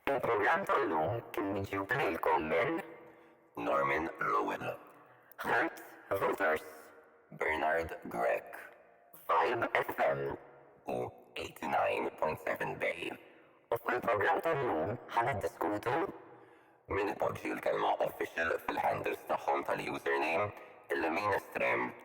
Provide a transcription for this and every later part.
Il-programm tal-lum kien miġjub lilkom minn. Norman Rowan. Ħadd Voters. Bernard Grech. Vibe FM. U 89.7 Bay. U fuq il-programm tal-lum ħa niddiskutu. Min ipoġġi l-kelma official fil-handles tagħhom tal-username, il-lemin estrem.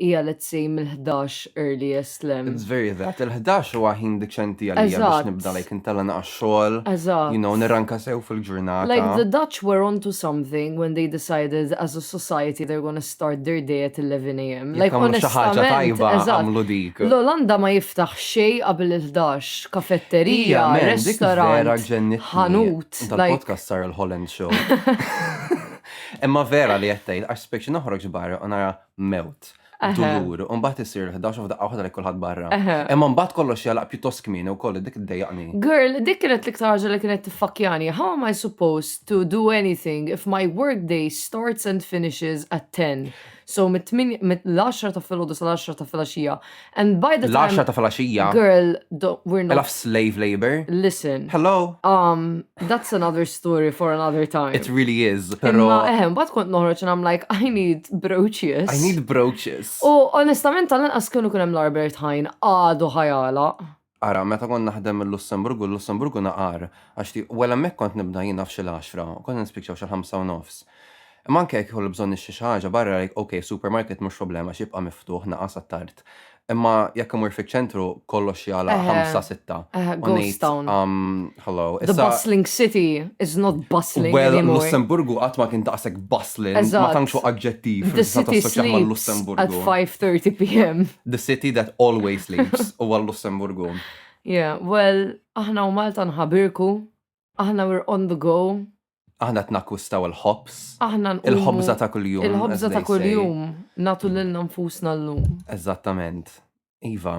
Hija let's say mill-11 earliest le. It's very that. Il-11 huwa ħin diċenti għalija biex Eżatt. nibda like intella naqax xogħol. Eżatt. You know, nirranka sew fil-ġurnata. Like the Dutch were onto something when they decided as a society they're gonna start their day at 11 a.m. Jekk Like għamlu xi ħaġa onestament, tajba eżatt. għamlu dik. L-Olanda ma jiftaħ xej qabel il-11, kafetterija, Ija, man, dik vera restaurant, ġennitni. ħanut, like- Tal-podcast sar il-Holland Show. Imma vera li qed tgħid, għax speċi noħroġ barra u nara mewt, dulur, u mbagħad isir 11 f'daqqa waħda li kulħadd barra. Imma mbagħad kollox jalaq pjuttost kmieni wkoll dik iddejjaqni. Girl, dik kienet l-iktar ħaġa li kienet tiffakkjani. How am I supposed to do anything if my work day starts and finishes at 10? So mit-8 mill-10 ta' filgħodu sal-10 ta' filgħaxija, And by the time... ta' falaxija. Girl, we're not... Elaf slave labor. Listen. Hello. Um, that's another story for another time. It really is, pero... Imma eħem, bat kont noħroċ and I'm like, I need brooches. I need brooches. U onestament, tal-inqas kienu kunem l-Albert Hajn għadu ħajala. Ara, meta kont naħdem il-Lussemburgu, l-Lussemburgu naqar, għax ti, well hemmhekk kont nibda jien naf xi l-għaxra, u konna nispiċċaw xi l-ħamsa u nofs. Imma anke jekk ikolli bżonn nixtri xi ħaġa barra like ok, supermarket mhux problema għax jibqa' miftuħ naqas għat-tard. Imma jekk imur fiċ-ċentru kollox jagħlaq ħamsa, sitta. U ngħid, umm. Hello. The Issa, bustling city is not bustling well, anymore. Lussemburgu qatt ma kien daqshekk bustling, ma Eżatt. tantx hu aġġettiv The meta city tassoċjah sleeps at mal-Lussemburgu. 5:30 p.m. The city that always sleeps huwa l-Lussemburgu. Yeah, well, aħna u Malta nħabirku, aħna we're on the go, Aħna qed nakkwistaw il-ħobs, aħna nqumu- il-ħobża ta' kuljum. as Il-ħobża they ta' say. kuljum natu lilna nfusna llum. Eżattament. Iva.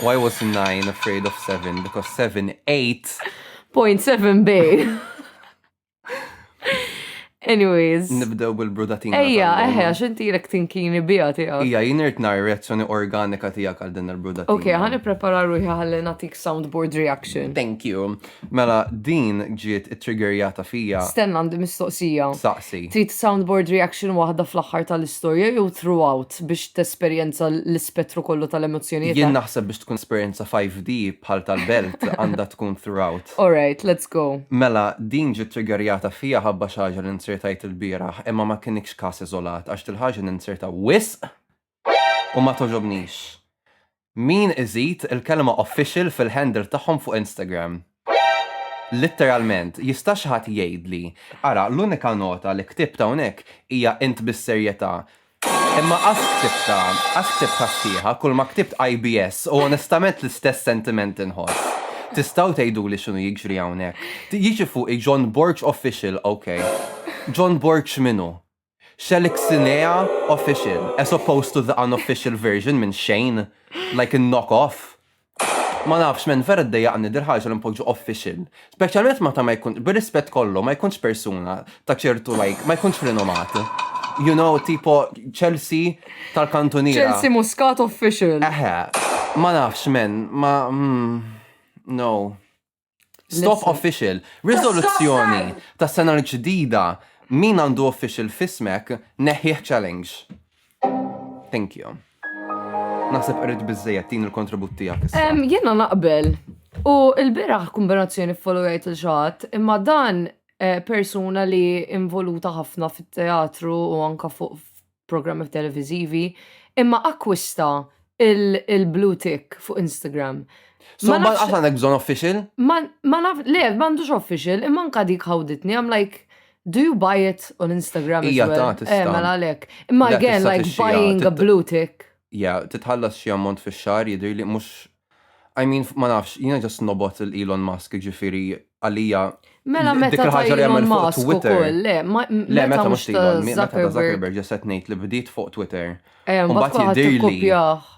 Why was nine afraid of seven? Because seven ate. Point seven bay. Anyways. Nibdew bil-brudatina. Ejja, eħe, għax inti l tinkini bija tiegħek. Ija, jien irt nar reazzjoni organika tiegħek għal din il-brudatina. Ok, ħani prepara ruħi ħalli natik soundboard reaction. Thank you. Mela din ġiet ittriggerjata fija. Stenna għandi mistoqsija. Saqsi. Trid soundboard reaction waħda fl-aħħar tal-istorja jew throughout biex tesperjenza l-ispettru kollu tal-emozzjonijiet? Jien naħseb biex tkun esperjenza 5D bħal tal-belt għandha tkun throughout. Alright, let's go. Mela din ġiet triggerjata fija ħabba xi ħaġa li nzirtajt ilbieraħ imma ma kinitx każ iżolat għax dil-ħaġa ninzirta wisq u ma togħġobnix. Min iżid il-kelma official fil-handle tagħhom fuq Instagram? Litteralment, jista' xi ħadd jgħidli, ara l-unika nota li ktibt hawnhekk hija int bis-serjetà, imma qatt ktibtha, qatt ktibtha sħiħa, kulma ktibt IBS u onestament l-istess sentiment inħoss. Tistgħu tgħiduli x'inhu jiġri hawnhekk? Jiġi fuqi John Borg Official, ok. John Borg x'minhu? Xelixinea official, as opposed to the unofficial version minn xejn, like a knock off. Ma nafx men, vera ddejjaqni dil ħaġa li npoġġu official. Speċjalment meta ma jkun, bir-rispett kollu, ma jkunx persuna ta' ċertu like, ma jkunx rinomat. You know, tipo Chelsea tal-kantuniera. Chelsea Muscat official. Eħe, ma nafx men, ma mm, no. Stop official. Risoluzzjoni ta' sena l-ġdida min għandu official fismek neħħieħ challenge. Thank you. Naħseb qrid biżejjed tin il-kontribut tiegħek issa. Jiena naqbel. U l-biraħ kombinazzjoni follow jgħid il xaħat, imma dan eh, persuna li involuta ħafna fit-teatru u anka fuq programmi televizivi, imma akkwista il-blue tick fuq Instagram. So, ma nafx għandek bżon official? Ma naf, le, ma għandux official, imma nka dik ħawditni, I'm like, do you buy it on Instagram? Ija ta' eh, tista. Eh, mela lek. Imma again, like buying a blue tick. Ja, titħallas xie ammont fi xar, jidir li mux I mean, ma nafx, jiena ġast nobot il-Elon Musk, ġifiri, għalija. Mela meta ta' Elon Musk u koll, le, le, meta mux ta' Elon, meta ta' Zuckerberg ġaset nejt li bdiet fuq Twitter. Eh, u bat jidirli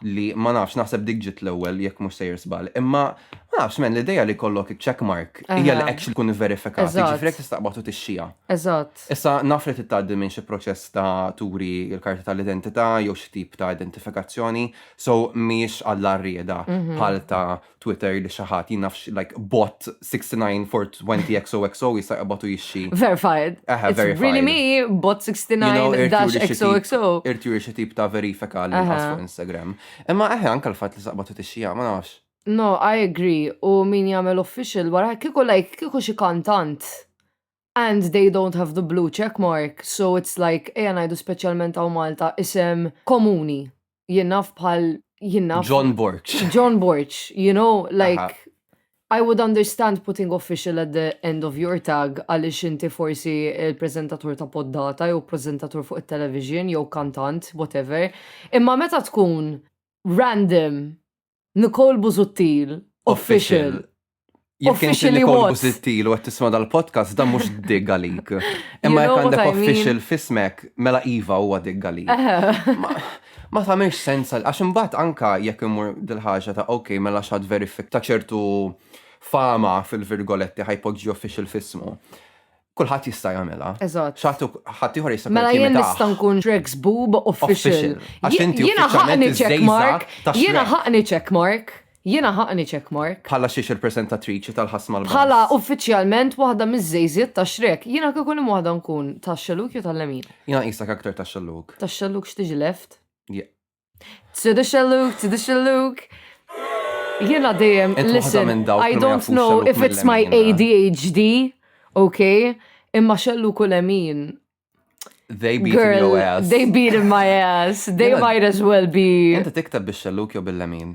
li ma nafx, naħseb dik ġit l-ewel, jek mux sejr sbal. Imma, ma nafx, men, l-ideja li kollok checkmark, hija li actually kun verifikat, ġifiri, jek tistaqbatu t-xija. Eżat. Issa, nafret it-taddi minn xie proċess ta' turi il-karta tal-identità, jew xie tip ta' identifikazzjoni, So mhijiex għalla rieda mhm. bħal ta' Twitter li xi ħadd jinafx like bot 69 for 20 XOXO jista' jqabatu jixxi. Verified. Aha, verified. Really me bot 69 dash XOXO. Irti juri xi tip ta' verifika li nħas fuq Instagram. Imma eħe anke l-fatt li saqbatu tixxija ma nafx. No, I agree. U min jagħmel official wara kieku like kieku xi kantant and they don't have the blue check mark so it's like ejja ngħidu speċjalment hawn Malta isem komuni jingħaf bħal jingħaf John Borg. John Borg, you know, like Aha. I would understand putting official at the end of your tag għaliex inti forsi il-prezentatur ta' poddata jew prezentatur fuq it-television jew kantant, whatever. Imma meta tkun random Nicole Busuttil, official. Jekk inti Officially Nicole what? Busittil u qed tisma' dal-podcast dan mhux dig għalik. Imma jekk know what għandek I mean. official fismek, mela iva huwa dig għalik. Ma- Ma tagħmilx sens għal- għax imbagħad anka jekk imur dil-ħaġa ta' ok mela x'għad verifik ta' ċertu fama fil-virgoletti ħajpoġġi official fismu. kulħadd jista' jagħmilha. Eżatt. Xatu ħadd ieħor jista' Mela jien nista' nkun Trex Boob official. Għax inti Jiena ħaqni check mark. Jiena ħaqni check mark. Jiena ħaqni check mark. Bħala xiex il-presentatriċi tal-ħass mal Bħala uffiċjalment waħda miż-żejżiet ta' Shrek. Jiena kieku li waħda nkun tax-xelluk jew tal-lemin. Jiena qisek aktar tax-xelluk. Tax-xelluk x'tiġi left? Tsidux xelluk, tsidux xelluk. Jiena dejjem, listen, I don't know if it's my ADHD, ok, imma xellu kull emin. They beat Girl, your ass. They beat in my ass. They might as well be. Inta tiktab biex xelluk jew bil-lemin.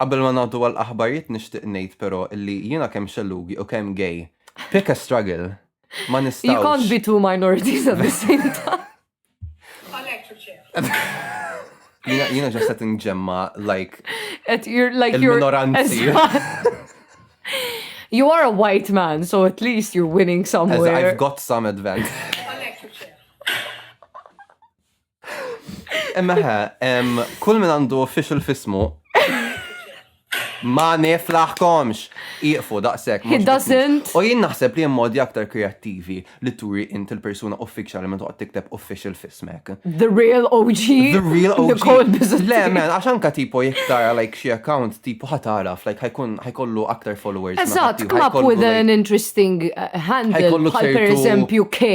Qabel ma ngħaddu għal aħbarijiet nixtieq ngħid però illi jiena kemm xellugi u kemm gay, pick a struggle, ma nistgħux. You can't be two minorities at the same time. Għalhekk ġibt xejn. Jiena ġast qed inġemma like il-minoranzi. You are a white man, so at least you're winning somewhere. I've got some advantage. Imma ħe, kull min għandu official fismu ma niflaħkomx. Iqfu daqsek. He doesn't. U jien naħseb li modi aktar kreattivi li turi int il-persuna uffiċjali minn toqgħod tikteb official fismek. The real OG. The real OG. Le, men, għax anka tipo jiktara like xi account tipo ħataraf, like ħajkun ħajkollu aktar followers. Eżatt, come up with an interesting uh, handle. Ħajkollu per eżempju K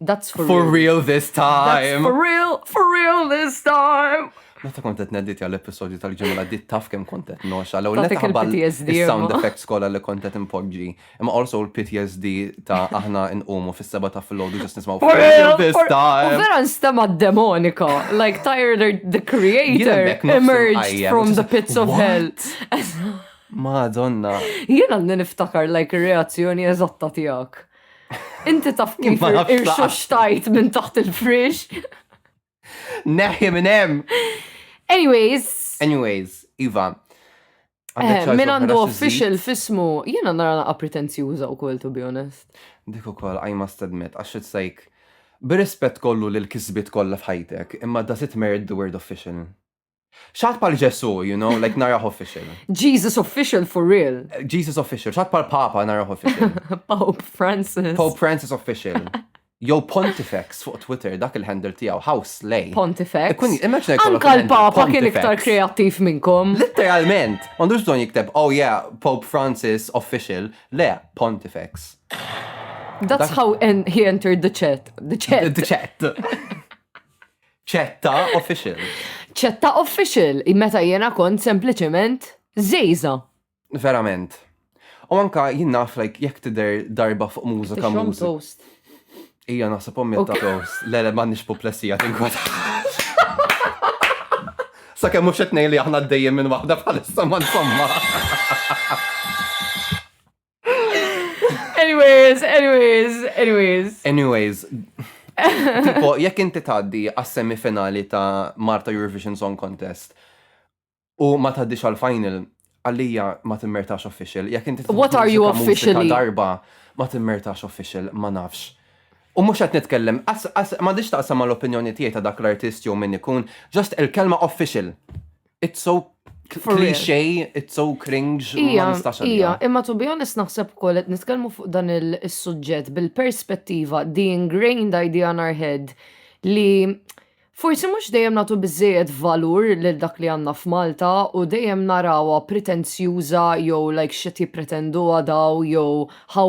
That's for, for real. real this time. That's for real, for real this time. Meta kont qed neddit għal episodju tal-ġimgħa għaddit taf kemm kont qed noxa l ewwel taħbal sound effects kollha li kont qed impoġġi. Imma also l-PTSD ta' aħna nqumu fis-seba ta' filgħodu ġust nismgħu for real this time. Vera nstema' demonika, like Tyler the creator emerged from the pits of hell. Madonna. Jiena niftakar like reazzjoni eżatta tiegħek. Inti taf kif irxu xtajt minn taħt il-frix. Neħi minn hemm. Anyways. Anyways, Iva. Eh, min għandu official fismu, jena nara naqa pretenzjuża u kol, to be honest. Dik u kol, I must admit, għax it's like, b'rispett kollu l kisbit kollha f'ħajtek, imma does it merit the word official? Xat pal Ġesu, you know, like naraħ official. Jesus official for real. Jesus official, xat pal Papa naraħ official. Pope Francis. Pope Francis official. Jow Pontifex fuq Twitter dak il-handle tiegħu House Lay. Pontifex. Kun immaġina Anka l-Papa kien iktar kreattiv minnkom. Literalment, m'għandux bżonn jikteb, oh yeah, Pope Francis official, le Pontifex. That's how en he entered the chat. The chat. The chat. ċetta official. ċetta official, meta jena kont sempliciment zejza. Verament. U anka jien naf like jekk tidher darba fuq mużika mużika. Ija naħseb ommi ta' toast. Le le m'għandix puplessija tinkwad. Sa kemm mhux qed li aħna dejjem minn waħda bħalissa ma insomma. Anyways, anyways, anyways. Anyways, tipo, jekk inti taddi għas-semi finali ta' Marta Eurovision Song Contest u ma taddix għal-final, għalija ma timmertax official. Jekk inti What are you officially? Darba ma timmertax official, ma nafx. U mux għat nitkellem, ma diċ taqsam l opinjoni tiegħi ta' dak l-artist jew min ikun, just il-kelma official. It's so cliche, it's so cringe, ma nistax Ija, imma to be honest naħseb ukoll qed nitkellmu fuq dan il-suġġett bil-perspettiva the ingrained idea on our head li forsi mhux dejjem nagħtu biżejjed valur lil dak li għandna f'Malta u dejjem narawha pretenzjuża jew like xi tippretenduha daw jew how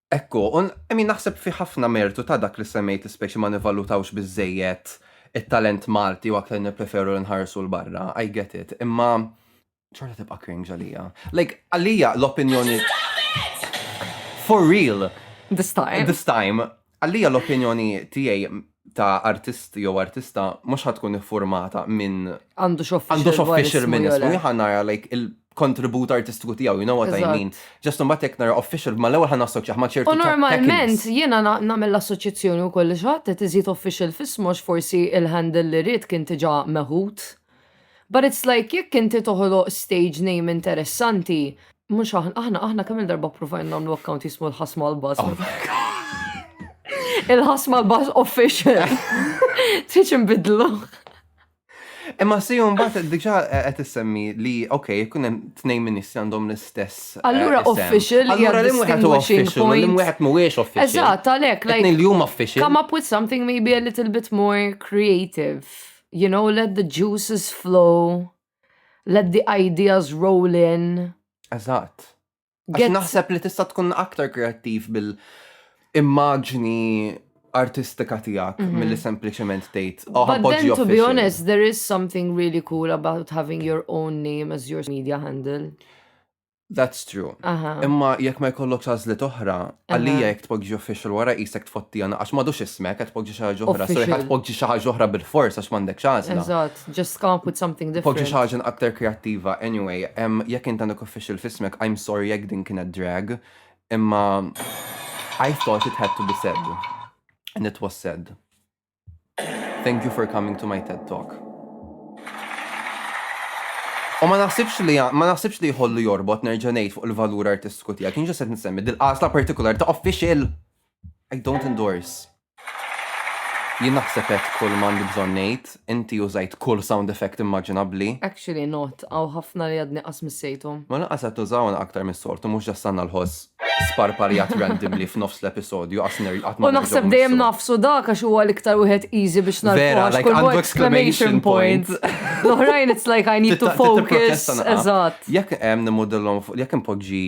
Hekk hu, u I mean naħseb fi ħafna mertu ta' dak li semmejt li specie ma nivvalutawx biżżejjed it-talent Malti u aktar nippreferu li nħarsu 'l barra, I get it, imma xorta tibqa' cringe għalija. Like, għalija l-opinjoni For real! This time. This time. Għalija l-opinjoni tiegħi ta' artist jew artista mhux ħa tkun iffurmata minn Għandu x'official għandu x'official minn ismu, jien ħa nara like kontribut artistiku tiegħu, you know what I mean. Ġast mbagħad jekk nara official, ma l-ewwel ħan assoċjaħ ma ċertu. U normalment jiena nagħmel l-assoċjazzjoni wkoll li xatt qed iżid official f'ismox forsi il-handle li rrid kien tiġa meħud. But it's like jekk inti toħloq stage name interessanti, mhux aħna aħna kemm il-darba provajna nagħmlu account jismu l-ħasma l-baż. Oh il-ħasma l-baż official. Tiġi nbidlu. Imma si mbagħad diġà eh, qed issemmi li ok, jkun hemm tnejn ministri għandhom l-istess. Eh, allura official. Allura li wieħed huwa official, li wieħed mhuwiex official. Eżatt, għalhekk like. Li huma official. Come up with something maybe a little bit more creative. You know, let the juices flow. Let the ideas roll in. Eżatt. Għax naħseb li tista' tkun aktar kreattiv bil-immaġni artistika tijak mm -hmm. mill-li sempliciment tgħid. Oh, But then, to be honest, there is something really cool about having your own name as your media handle. That's true. Aha. Imma jekk ma jkollok għażliet oħra, Għalija jekk tpoġġi official wara qisek tfotti għana għax m'għadux ismek qed tpoġġi xi ħaġa oħra. So jekk tpoġġi xi ħaġa oħra bil-fors għax m'għandekx għażla. Eżatt, just come up with something different. Poġġi xi ħaġa aktar kreattiva. Anyway, jekk int għandek official f'ismek, I'm sorry jekk din kienet drag, imma I thought it had to be said. And it was said. Thank you for coming to my TED Talk. U ma naħsibx li ma naħsibx li jħollu jorbot nerġa' ngħid fuq il-valur artistiku tiegħek. Kien ġesed nsemmi dil-qasla partikolari ta' official. I don't endorse. Jien naħseb qed kull m'għandi bżonn ngħid, inti użajt kull sound effect immaġinabbli. Actually not, għaw ħafna li għadni qas missejthom. Ma lanqas qed tużawna aktar mis-soltu mhux ġassanna l-ħoss. sparparjat randomly f'nofs l-episodju għas ner qatt ma U naħseb nerġgħu dejjem nissu. nafsu dak għax huwa l-iktar wieħed easy biex narfu. Vera, għax like, kull għandu exclamation exclamation point. point. L-oħrajn it's like I need to Titta- titta focus. protesta naqa. Eżatt. Jekk hemm nimodellhom fuq jekk impoġġi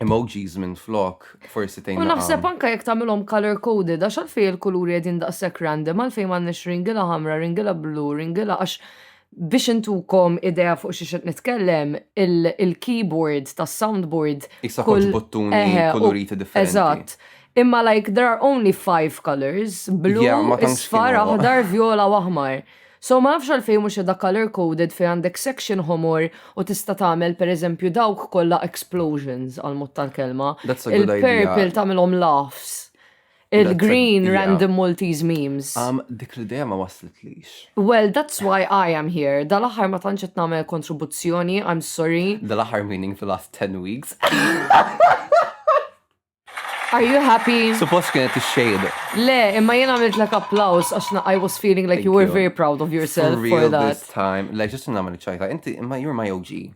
emojis minn flok, forsi tgħin. U naħseb naqa. anka jekk tagħmilhom color coded għax għalfejn il-kuluri qegħdin daqshekk random għalfejn m'għandniex ringila ħamra, ringila blu, ringila għax Biex intukom idea fuq xiex qed nitkellem, il-keyboard tas-soundboard. Issa kollox buttuni kuluriti differenti. Eżatt. Imma like there are only five colours, blu, isfar, aħdar, vjola u aħmar. So ma nafx għalfejn mhux qiegħda colour coded fejn għandek section ħomor u tista' tagħmel pereżempju dawk kollha explosions għall-mod tal-kelma. Il-purple tagħmilhom laughs. Il-green random Maltese memes. Għam, dik l-ideja ma waslitlix. Well, that's why I am here. Dal-aħħar ma tantx qed nagħmel kontribuzzjoni, I'm sorry. Dal-aħħar meaning the last 10 weeks. Are you happy? Suppost kienet ix-xejn. Le, imma jien għamilt lek applaus għax I was feeling like you were very proud of yourself for that. This time, le ġistu nagħmel ċajta, inti imma you're my OG.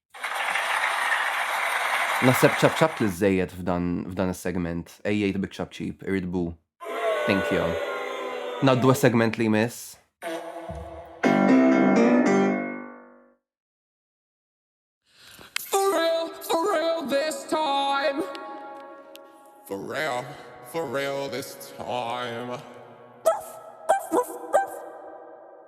Naħseb ċapċapt l-żżejjed f'dan is-segment. Għejjejt biċ-ċapċip, irrid bu. Thank you. Ngħaddu għas-segment li jmiss.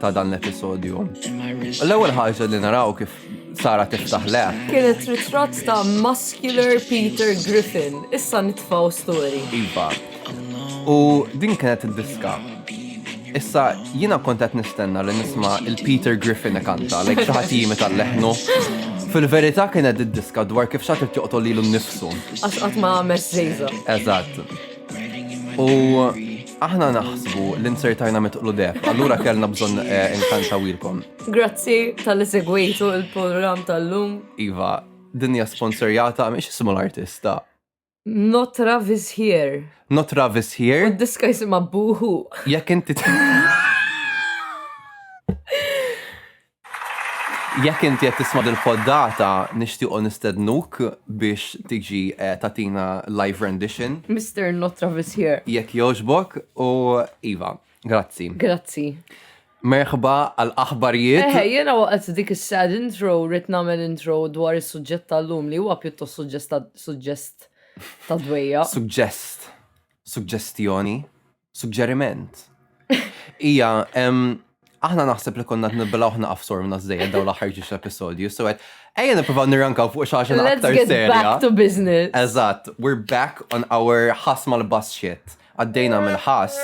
ta' dan l-episodju. L-ewwel ħaġa li naraw kif Sara tiftaħ le. Kienet ritratt ta' muscular Peter Griffin, issa nitfaw story. Iva. U din kienet id-diska. Issa jina kontet nistenna li nisma il-Peter Griffin kanta, like xaħat jimi tal-leħnu. Fil-verità kienet id-diska dwar kif xaħat joqtol li l-nifsu. Għax għatma għamet zejza. Eżatt. U Aħna naħsbu li nsertajna mitqlu deb, allura kellna bżonn eh, inkantawilkom. Grazzi tal-li segwejtu il-program tal-lum. Iva, dinja sponsorjata miex ismu l-artista. Not Travis here. Not Travis here. U diska jisima buhu. Jekk inti. Jekk inti qed tisma' dil-poddata, nixtiequ nistednuk biex tiġi eh, tagħtina live rendition. Mister Not Travis Here. Jekk jogħġbok u iva, grazzi. Grazzi. Merħba għal aħbarijiet. Eħe, jena waqt dik is-sad intro rrit nagħmel intro dwar is-suġġett tal-lum li huwa pjuttost suġġest ta' dwejja. Suggest. Suggestjoni. Suġġeriment. Ija, aħna naħseb li konna t-nibla uħna għafsor minna z-zejja daw l-axar ġiġ episodju, so għed, ejja niprofaw nirrankaw fuq xaxin aktar serja. Let's get back to business. Eżat, we're back on our ħas mal-bass shit. Għaddejna mill-ħas.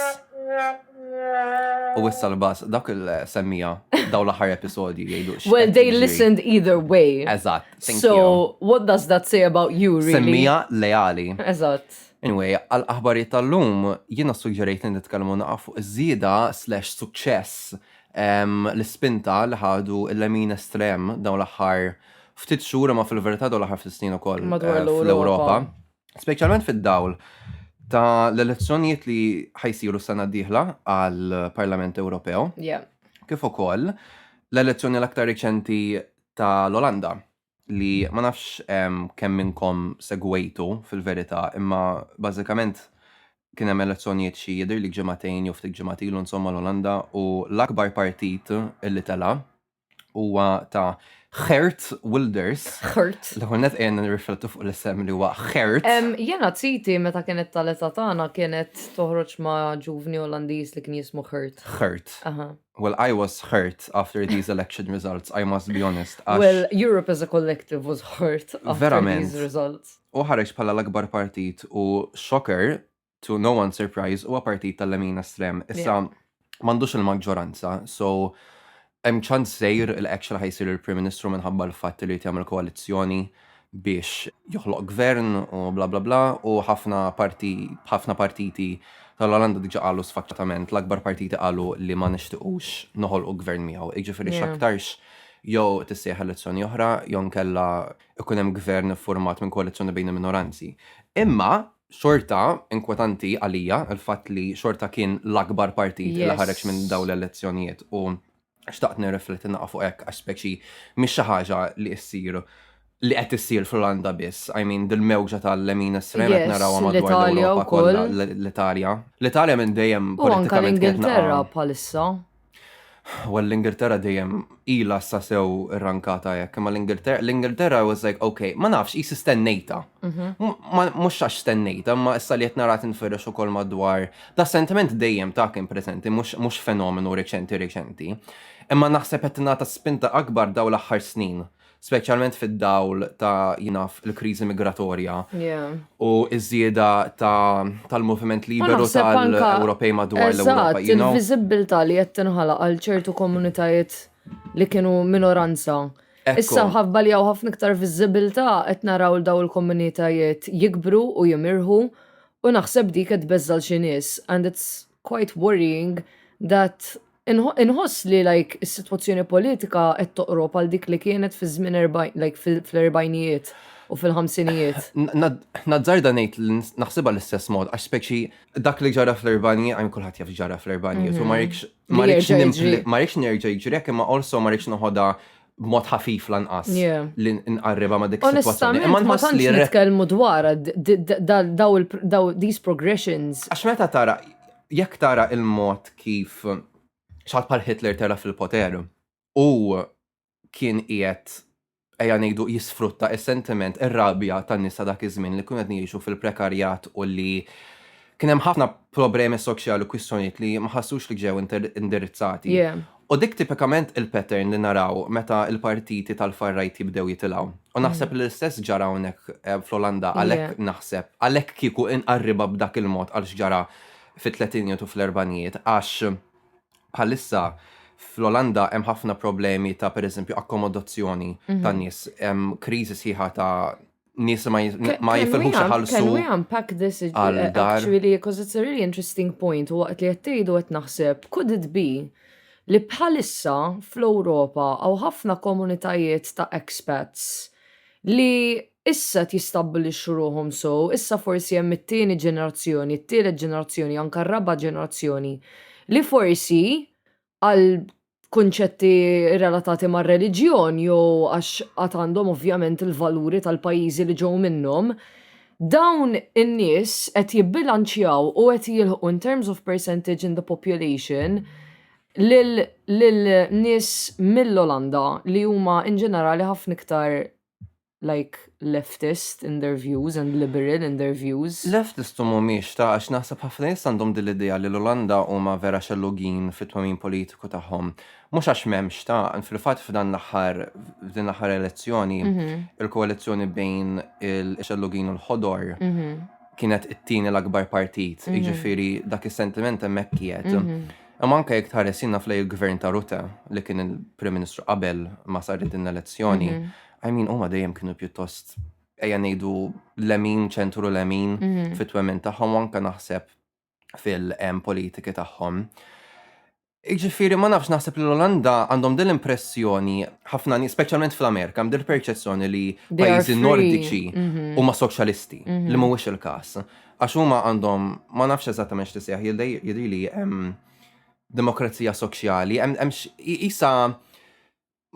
U issa l-bass, dak il-semmija daw l-axar episodju jgħidu. Well, they listened either way. Eżat. So, what does that say about you, really? Semmija leali. Eżat. Anyway, għal aħbarijiet tal-lum, jiena ssuġġerejt li nitkellmu naqgħa fuq iż-żieda slash suċċess ehm, l-ispinta li ħadu l-lemin estrem dawn l-aħħar ftit xhur imma fil-verità dawn l-aħħar ftit snin ukoll Madwar eh, l-Ewropa. fl-Ewropa. Speċjalment fid-dawl ta' l-elezzjonijiet li ħajsiru s-sena d-dieħla għal Parlament Ewropew, Yeah. kif ukoll l-elezzjoni l-aktar reċenti ta' l-Olanda. li ma nafx kemm minnkom segwejtu fil-verità, imma bażikament kien hemm elezzjonijiet xi jidher li ġimagħtejn jew ftit ġimgħat ilu insomma l-Olanda u l-akbar partit li tela' huwa ta' Geert Wilders. Geert. L-ewwel net ejja nirriflettu fuq l-isem li huwa Geert. Jiena titi meta kienet tal-età tagħna kienet toħroġ ma' ġuvni Olandiż li kien jismu Geert. Geert. Aha. Well, I was hurt after these election results, I must be honest. Għax Well, Europe as a collective was hurt after Verament. these results. u ħareġ bħala l-akbar partit u shocker to no one surprise huwa partit tal-lemin estrem. Issa m'għandux il-maġġoranza, so hemm ċans sejr li actually ħajsir il-Prim Ministru minħabba l-fatt li jrid jagħmel koalizzjoni biex joħloq gvern u bla bla bla u ħafna parti ħafna partiti tal-Olanda diġa qalu sfaċċatament l-akbar partiti qalu li ma nixtiqux noħolqu gvern miegħu. Jiġifieri yeah. x'aktarx jew tissejħ elezzjoni oħra jew nkella ikun hemm gvern format minn koalizzjoni bejn il-minoranzi. Imma xorta inkwetanti għalija il-fatt li xorta kien l-akbar partit yes. li ħareġ minn dawn l-elezzjonijiet u Xtaqt nirrifletti naqa' fuq hekk għax speċi mhix xi ħaġa li issir li qed issir fl-Olanda biss. I mean, dil-mewġa tal-lemin estrem qed Yes, narawha madwar l-Italja l-Ewropa wkoll. kollha, l- l-Italja. L-Italja minn dejjem U anka politikament kienet l-Ingilterra naqa'. bħalissa. Well, l-Ingilterra dejjem ilha sa sew irrankata hekk, imma l-Ingilterra, l-Ingilterra was like, okay, ma nafx, qisi stennejtha. Mhm. Mux xax stennejta, ma issa li jtnarat nfirrex u kol madwar. Da sentiment dejjem ta' kien prezenti, mux fenomenu reċenti reċenti. Imma naħseb jtna ta' spinta akbar daw l-axħar snin, specialment fid-dawl ta' jinaf il-krizi migratorja u iż-żieda tal-moviment liberu tal-Ewropej madwar l-Ewropa. Il-vizibilta li jtnħala għal ċertu komunitajiet li kienu minoranza Issa mħabba li hawn ħafna iktar viżibilità qed naraw daw il-komunitajiet jikbru u jimirħu u naħseb dik qed tbeżża' xi nies and it's quite worrying that inħoss li like is-sitwazzjoni politika qed toqrob għal dik li kienet fi żmien like fl-erbajnijiet u fil-ħamsinijiet. Nazzarda ngħid li naħsibha l-istess mod għax speċi dak li ġara fl-erbajnijiet għajn kulħadd jaf ġara fl-erbajnijiet u ma mhm. Ma Li rridx jerġa' jiġri. nimpli- ma rridx nerġa' jiġri hekk imma also ma rridx noħodha b'mod ħafif lanqas Yeah. li nqarribha ma' dik is-sitwazzjoni. Onestament, Imma ma nħoss tantx li r- nitkellmu dwarha d- d- d- dal- daw il- daw these progressions. Għax meta tara, jekk tara il-mod kif xaħat bħal Hitler tela' fil-poter u kien qiegħed ejja ngħidu jisfrutta is-sentiment ir-rabja tan-nies ta' dak iż-żmien li kienu qed ngħixu fil-prekarjat u li kien hemm ħafna problemi soċjali u kwistjonijiet li ma ħassux li ġew indirizzati. U dik tipikament il-pattern li naraw meta l-partiti tal-far-right jibdew jitilgħu. U mm. naħseb li l-istess ġara hawnhekk eh, fl-Olanda għalhekk naħseb għalhekk kieku inqarriba b'dak il-mod għal x'ġara fit-tletinijiet u fl-erbanijiet għax Bħalissa fl-Olanda hemm ħafna problemi ta' pereżempju akkomodazzjoni mhm. ta' nies, hemm kriżi sħiħa ta' nies ma jifilħux ħalsu. Can we unpack this uh, actually because it's a really interesting point u waqt li qed tgħidu qed naħseb could it be li bħalissa fl-Ewropa għaw ħafna komunitajiet ta' expats li Issa qed jistabbilixxu ruħhom sew, issa forsi hemm it-tieni ġenerazzjoni, it-tielet ġenerazzjoni, anke r-raba' ġenerazzjoni, li forsi għal kunċetti relatati mar-reliġjon jew għax għad għandhom ovvjament il-valuri tal-pajjiżi li ġew minnhom, dawn in-nies qed jibbilanċjaw u qed jilħqu in terms of percentage in the population lil nies mill-Olanda li huma in ġenerali ħafna iktar like leftist in their views and liberal in their views. Leftist u mhumiex ta' għax naħseb ħafna nies għandhom din l-idea li l-Olanda huma vera xellugin fit-twemmin politiku tagħhom. Mhux għax m'hemmx ta' fil-fatt f'dan l-aħħar f'din l-aħħar elezzjoni mhm. il-koalizzjoni bejn il-xellugin u l-ħodor mhm. kienet it-tieni l-akbar partit, mhm. jiġifieri dak is-sentiment hemmhekk qiegħed. Imma anke jekk tħares jiena f'lej il-gvern ta' Rutte li kien il-Prim Ministru qabel ma sar din l-elezzjoni, I mean huma dejjem kienu pjuttost ejja ngħidu lemin, ċentru lemin fit-twemmin tagħhom u anke naħseb fil-politiki tagħhom. Jiġifieri ma nafx naħseb li l-Olanda għandhom din l-impressjoni ħafna nies, speċjalment fl-Amerika, hemm din il-perċezzjoni li They are pajjiżi free. nordiċi huma soċjalisti, li mhuwiex il-każ. Għax huma għandhom, ma nafx eżattament x'tisejħ, jidhirli hemm demokrazija soċjali, hemm isa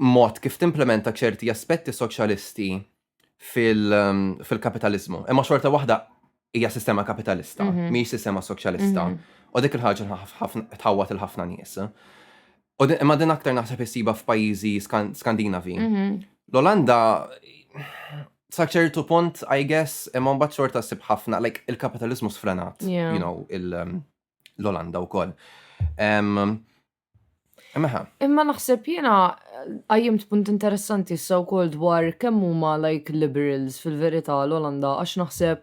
mod kif timplementa ċerti aspetti soċjalisti fil-kapitalizmu. Ehm, Imma xorta waħda hija sistema kapitalista, mhm. mhijiex sistema soċjalista. Mhm. U dik il-ħaġa tħawwat il-ħafna nies. U imma din aktar naħseb issiba f'pajjiżi Skandinavi. Mhm. L-Olanda Sa ċertu punt, I guess, imma mbagħad xorta sib ħafna, like il-kapitalizmu sfrenat, yeah. you know, um, l-Olanda u koll. Um, Imma Imma naħseb jena għajjem punt interessanti s-saw kol dwar kemm huma like liberals fil-verità l-Olanda għax naħseb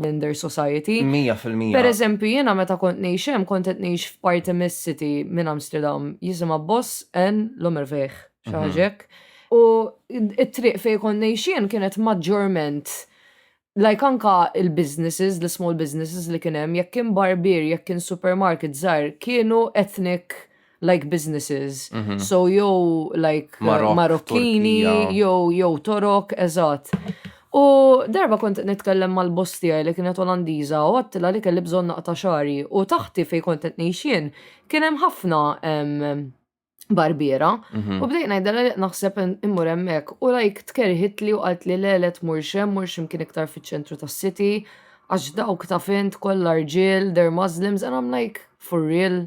minn their society. 100%. Per eżempju, jiena meta kont ngħix hemm kont qed ngħix f'parti mis-city minn Amsterdam jisimha Boss en Lomerveg, xi mhm. ħaġek. U it-triq fejn kont ngħix jien kienet maġġorment like anka il-businesses, l-small businesses li kien hemm, jekk kien barbier, jekk kien supermarket żgħar, kienu ethnic like businesses. Mm -hmm. So jew like Marok, Marokkini, jew jew Torok, eżatt. U darba kont nitkellem mal-boss tiegħi li kienet Olandiża u għattila li kelli bżonn naqta' xari u taħti fejn kont qed ngħixien kien hemm ħafna barbiera. Mhm. U bdejt ngħidha li naħseb immur hemmhekk u lajk tkerħit li u qalt li le le tmur xem, mur xem kien iktar fiċ-ċentru tas-city għax dawk ta' fint kollha rġiel, they're Muslims and I'm like for real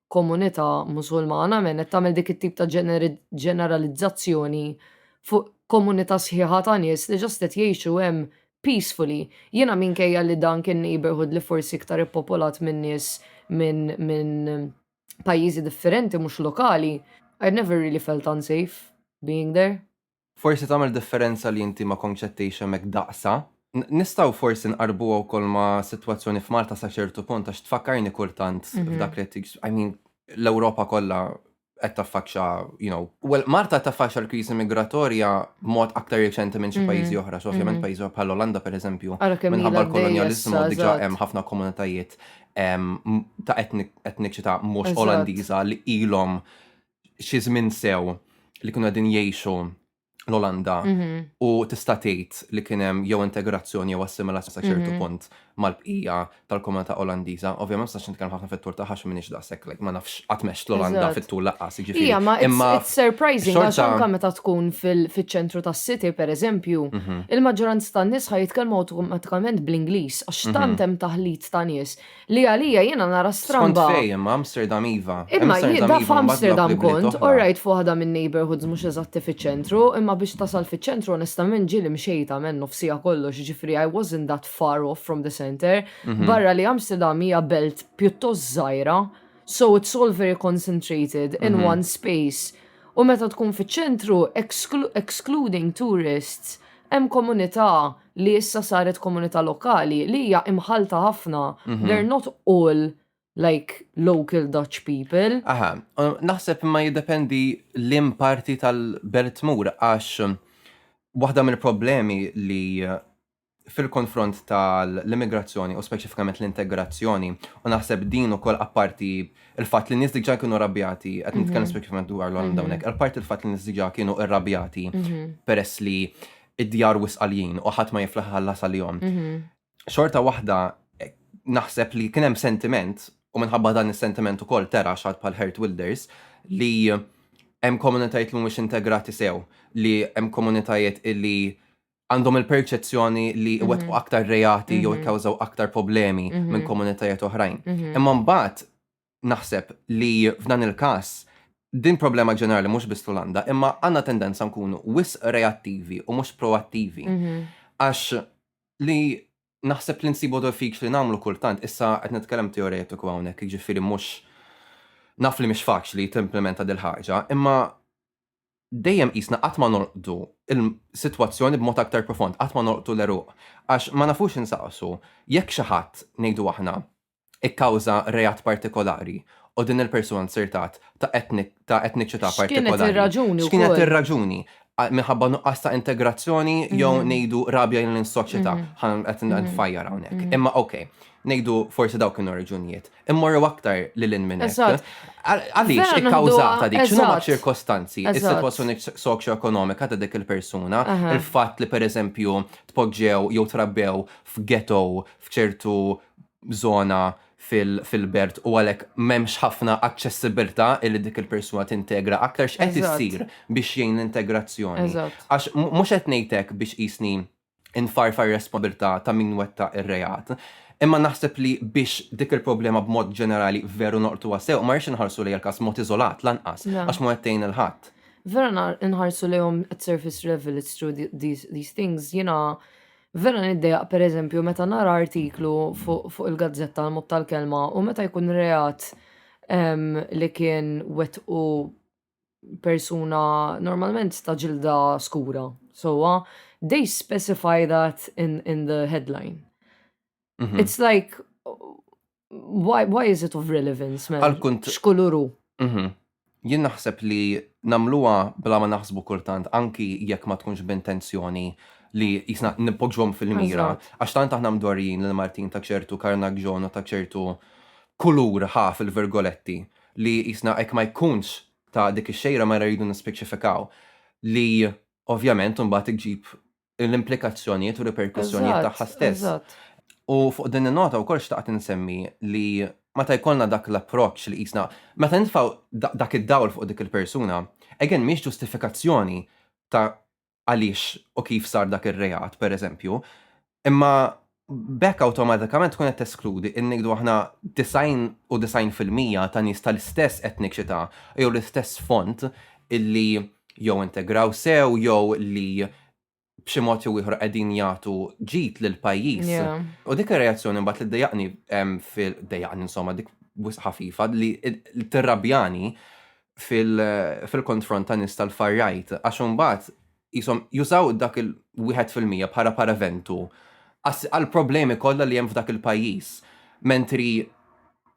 komunità Musulmana men qed tagħmel dik it-tip ta' ġeneralizzazzjoni fuq komunità sħiħa ta' nies li ġast qed jgħixu hemm peacefully. Jiena minkejja li dan kien neighborhood li forsi iktar ippopolat minn nies minn min pajjiżi differenti mhux lokali, I never really felt unsafe being there. Forsi tagħmel differenza li inti ma kontx qed tgħix hemmhekk daqsha. Nistgħu forsi nqarrbuha wkoll ma' sitwazzjoni f'Malta sa ċertu punt għax tfakkarni kultant f'dak li qed I mean, l-Ewropa kollha qed taffaċċa, you know, well, Malta qed taffaċċa l-kriżi migratorja b'mod aktar riċenti minn xi pajjiżi oħra, so ovvjament pajjiżi oħra bħall-Olanda pereżempju, minħabba l-kolonjaliżmu diġà hemm ħafna komunitajiet ta' etniċità mhux Olandiża li ilhom xi żmien sew li kienu qegħdin jgħixu l-Olanda mhm. u tista' tgħid li kien hemm jew integrazzjoni jew assimilazzjoni sa ċertu mhm. punt mal-bqija tal-komunità Olandiża. Ovvjament sax nitkellem ħafna fit-tul ta' ħax minix daqshekk like ma nafx qatt mex l-Olanda fit-tul laqqas jiġifieri. Ija, ma imma surprising għax anke meta tkun fiċ-ċentru tas-city pereżempju, mhm. il-maġġoranza tan-nies ħaj jitkellmu awtomatikament bl-Ingliż għax tant hemm taħlit ta' nies li għalija jiena nara stramba. Skont fejn, imma Amsterdam iva. Imma jien da f'Amsterdam kont, orajt f'waħda min-neighbourhoods mhux eżatti fiċ-ċentru, imma biex tasal fiċ-ċentru onestament ġieli mxejt għamel nofsija kollox, jiġifieri I wasn't that far off from the centre, barra li Amsterdam hija belt pjuttost żgħira, so it's all very concentrated in one space. U meta tkun fiċ-ċentru, excluding tourists, hemm komunità li issa saret komunità lokali li hija imħalta ħafna. Mhm. They're not all like local Dutch people. Aha, naħseb ma jiddependi l-im parti tal-belt tmur għax waħda mill-problemi li fil-konfront tal-immigrazzjoni u speċifikament l-integrazzjoni u naħseb din u koll apparti il-fat li nis diġa kienu rabjati, għet mhm. nitkellem speċifikament dwar l-għandawnek, mhm. apparti il-fat li nis diġa kienu rabjati mhm. peress li id-djar wisq għaljin u ħadd ma jiflaħ iħallas għalihom. Xorta waħda eh, naħseb li kien hemm sentiment u minħabba dan is-sentiment ukoll tera xad bħal Hert Wilders li hemm komunitajiet li mhumiex integrati sew, li hemm komunitajiet li għandhom il-perċezzjoni li mhm. wetqu aktar reati jew mhm. ikkawżaw aktar problemi mhm. minn komunitajiet oħrajn. Imma mbagħad naħseb li f'dan il-każ din problema ġenerali mhux biss l-Olanda, imma għandna tendenza nkunu wis reattivi u mhux proattivi. Mhm. Għax li naħseb li nsibu fik li nagħmlu kultant, issa qed nitkellem teoretiku hawnhekk, jiġifieri mhux naf li mhix faċli timplementa dil ħaġa, imma dejjem jisna qatt ma norqdu il-sitwazzjoni b'mod aktar profond, qatt ma norqdu l-eruq, għax ma nafux insaqsu jekk xi ħadd ngħidu aħna ikkawża reat partikolari u din il-persuna nzertat ta' ta' etniċità partikolari. X'kienet ir-raġuni? Minħabba nuqqas ta' integrazzjoni jew mm. ngħidu rabja lejn is-soċjetà mm. ħan qed mm. nfajjar hawnhekk. Imma okej, ngħidu forsi dawk kienu raġunijiet. Immorru aktar lil hinn minn hekk. Għaliex ikkawżata dik x'inhu ma' ċirkostanzi, is-sitwazzjoni soċjoekonomika ta' dik il-persuna, il-fatt li pereżempju tpoġġew jew trabbew f'ghetto f'ċertu żona fil-belt u għalhekk m'hemmx ħafna aċċessibilità illi dik il-persuna tintegra aktar x'qed issir biex jgħin l-integrazzjoni. Għax mhux qed ngħidlek biex qisni nfarfar responsabilità ta' min wetta ir-reat. Imma naħseb li biex dik il-problema b'mod ġenerali veru noqtu għasew, ma rridx inħarsu li l-kas mod iżolat lanqas, għax ma għettejn il-ħadd. Vera inħarsu lejhom at surface level, it's true these things, jiena Vera niddejaq pereżempju meta nara artiklu fuq il-gazzetta għal mod tal-kelma u meta jkun reat li kien wettqu persuna normalment ta' ġilda skura. So, they specify that in, in the headline. Mm -hmm. It's like, Why, why is it of relevance, man? Għal-kunt. Xkuluru. Mhm. Jien naħseb li namluwa bla ma naħsbu kultant, anki jekk ma tkunx b'intenzjoni li jisna nipoġġhom fil-mira, għax tant aħna mdorjin l Martin ta' ċertu karnagġon u ta' ċertu kulur ħa fil-virgoletti li jisna ek ma jkunx ta' dik ix-xejra ma rridu nispeċifikaw li ovvjament mbagħad iġib l-implikazzjonijiet u riperkussjonijiet tagħha stess. U fuq din in-nota wkoll xtaqt insemmi li meta jkollna dak l-approċċ li qisna meta nitfgħu dak id-dawl fuq dik il-persuna, again mhix ġustifikazzjoni ta' għaliex u kif sar dak ir-reat, pereżempju, imma B'hekk awtomatikament tkun qed teskludi li ngħidu aħna 99 fil-mija ta' nies tal-istess etniċità jew l-istess sfond li jew integraw sew jew li b'xi mod jew ieħor qegħdin jagħtu ġid lill-pajjiż. U dik ir-reazzjoni mbagħad li ddejjaqni fil ddejjaqni insomma dik wisq ħafifa li tirrabjani fil-konfront ta' nies tal-far right għax imbagħad jisom jużaw dak il-1 fil-mija bħala paraventu għal problemi kollha li hemm f'dak il-pajjiż. Mentri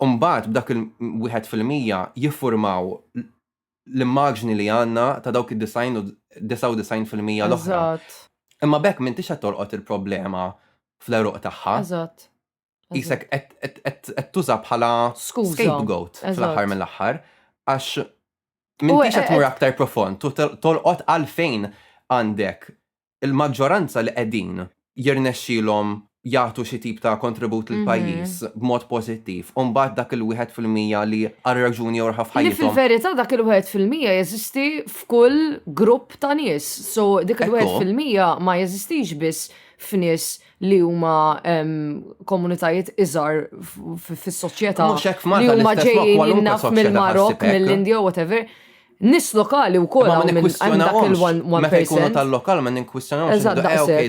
mbagħad b'dak il-1 fil-mija jiffurmaw l-immaġni li għandna ta' dawk id-design u 99 fil-mija l-oħra. Imma bekk minn tixħed torqod il-problema fl-eruq tagħha. Eżatt. jisek qed tuża bħala scapegoat fl-aħħar mill-aħħar għax minn tix qed mur aktar profond tu tolqot għalfejn għandek il-maġġoranza li qegħdin jirnexxilhom jagħtu xi tip ta' kontribut lil mhm. pajjiż b'mod pożittiv, u mbagħad dak il-wieħed fil-mija li għal raġuni jew raħaf ħajjithom. Fil-verità dak il-wieħed fil-mija jeżisti f'kull grupp ta' nies, so dik il-wieħed fil-mija ma jeżistix biss f'nies li huma komunitajiet iżgħar fis-soċjetà li huma ġejjin naf mill-Marok, mill-Indja, whatever. Nis lokali u koll għamil dak il-one person. Meta jkunu tal-lokal, ma ninkwistjonaw. Eżatt,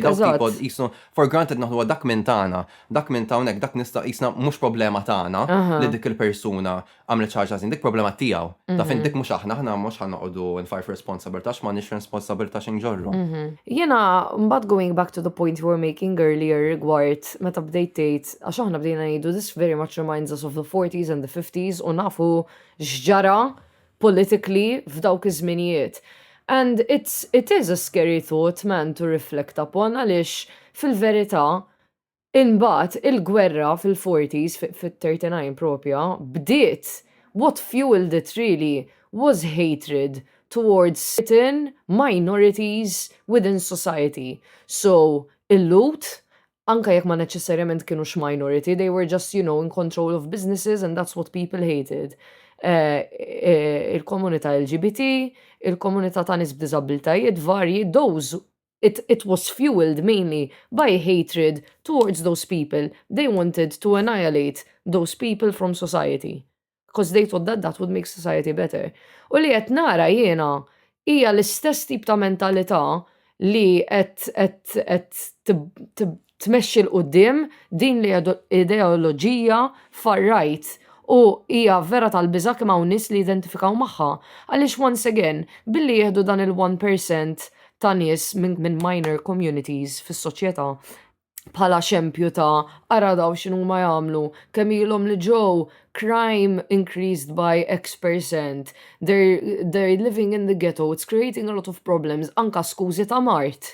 eżatt. Jisnu, for granted naħdu dak minn tana, dak minn tawnek, dak nista jisna mux problema tana li dik il-persuna għamlet xaħġa ħażin, dik problema tiegħu. Ta' fin mhm. dik mhux aħna, aħna mhux ħan noqogħdu nfarf responsabilta x'ma nix responsabilta x'in ġorru. Mhm. Jiena mbagħad going back to the point you were making earlier rigward meta bdejt tgħid għax aħna bdejna ngħidu this very much reminds us of the 40s and the 50s u nafu x'ġara politically f'dawk iż-żminijiet. And it's, it is a scary thought, man, to reflect upon, għalix fil-verita, Imbagħad il-gwerra fil-forties, fit-39 propja, bdiet, what fuelled it really was hatred towards certain minorities within society. So, il-Lhud, anke jekk ma neċessarjament kinux minority, they were just, you know, in control of businesses and that's what people hated. Il-komunità LGBT, il-komunità ta' nies b'diżabbiltajiet varji, those It, it was fuelled mainly by hatred towards those people, they wanted to annihilate those people from society because they thought that that would make society better. U li qed nara jiena hija l-istess tip ta' mentalità li qed qed qed tmexxi 'l quddiem din l-ideoloġija far right u hija vera tal-biża' kemm hawn nies li jidentifikaw magħha għaliex once again billi jieħdu dan il-one percent ta' nies minn minor communities fis-soċjetà bħala xempju ta' ara dawn x'inhuma jagħmlu kemm ilhom li ġew crime increased by X percent they're, they're living in the ghetto it's creating a lot of problems anka skużi ta' mard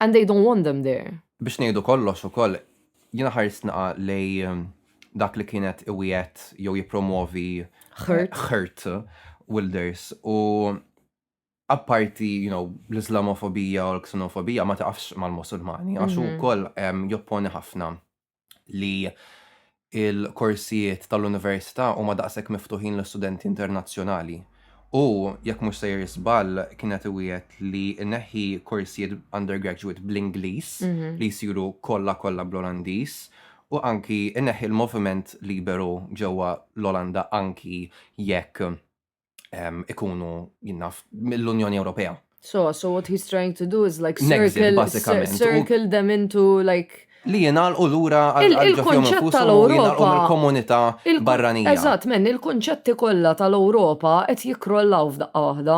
And they don't want them there. Biex ngħidu kollox ukoll, jiena ħarist naqa' lejn dak li kien qed iwiegħed jew jippromwovi Ħrt. Ħrt Wilders u apparti you know, l-Islamofobija u l-ksenofobija ma taqafx mal-Musulmani għax hu Mhm. wkoll em, jopponi ħafna li il-korsijiet tal-Università huma daqshekk miftuħin l-istudenti internazzjonali. U, jekk mhux sejjer żball, kien qed iwiegħed li jneħħi korsijiet undergraduate bl-Ingliż li jsiru kollha kollha bl-Olandiż u anki jneħħi l-moviment liberu ġewwa l-Olanda anki jekk ehm, ikunu jinnaf mill-Unjoni Ewropea. So, so what he's trying to do is like circle, circle them into like li jenal u l-ura għal-ġofjom tal-Europa. Il-komunità barranija. Eżat, men, il-konċetti kollha tal-Europa qed jikrollaw f'daqqa waħda.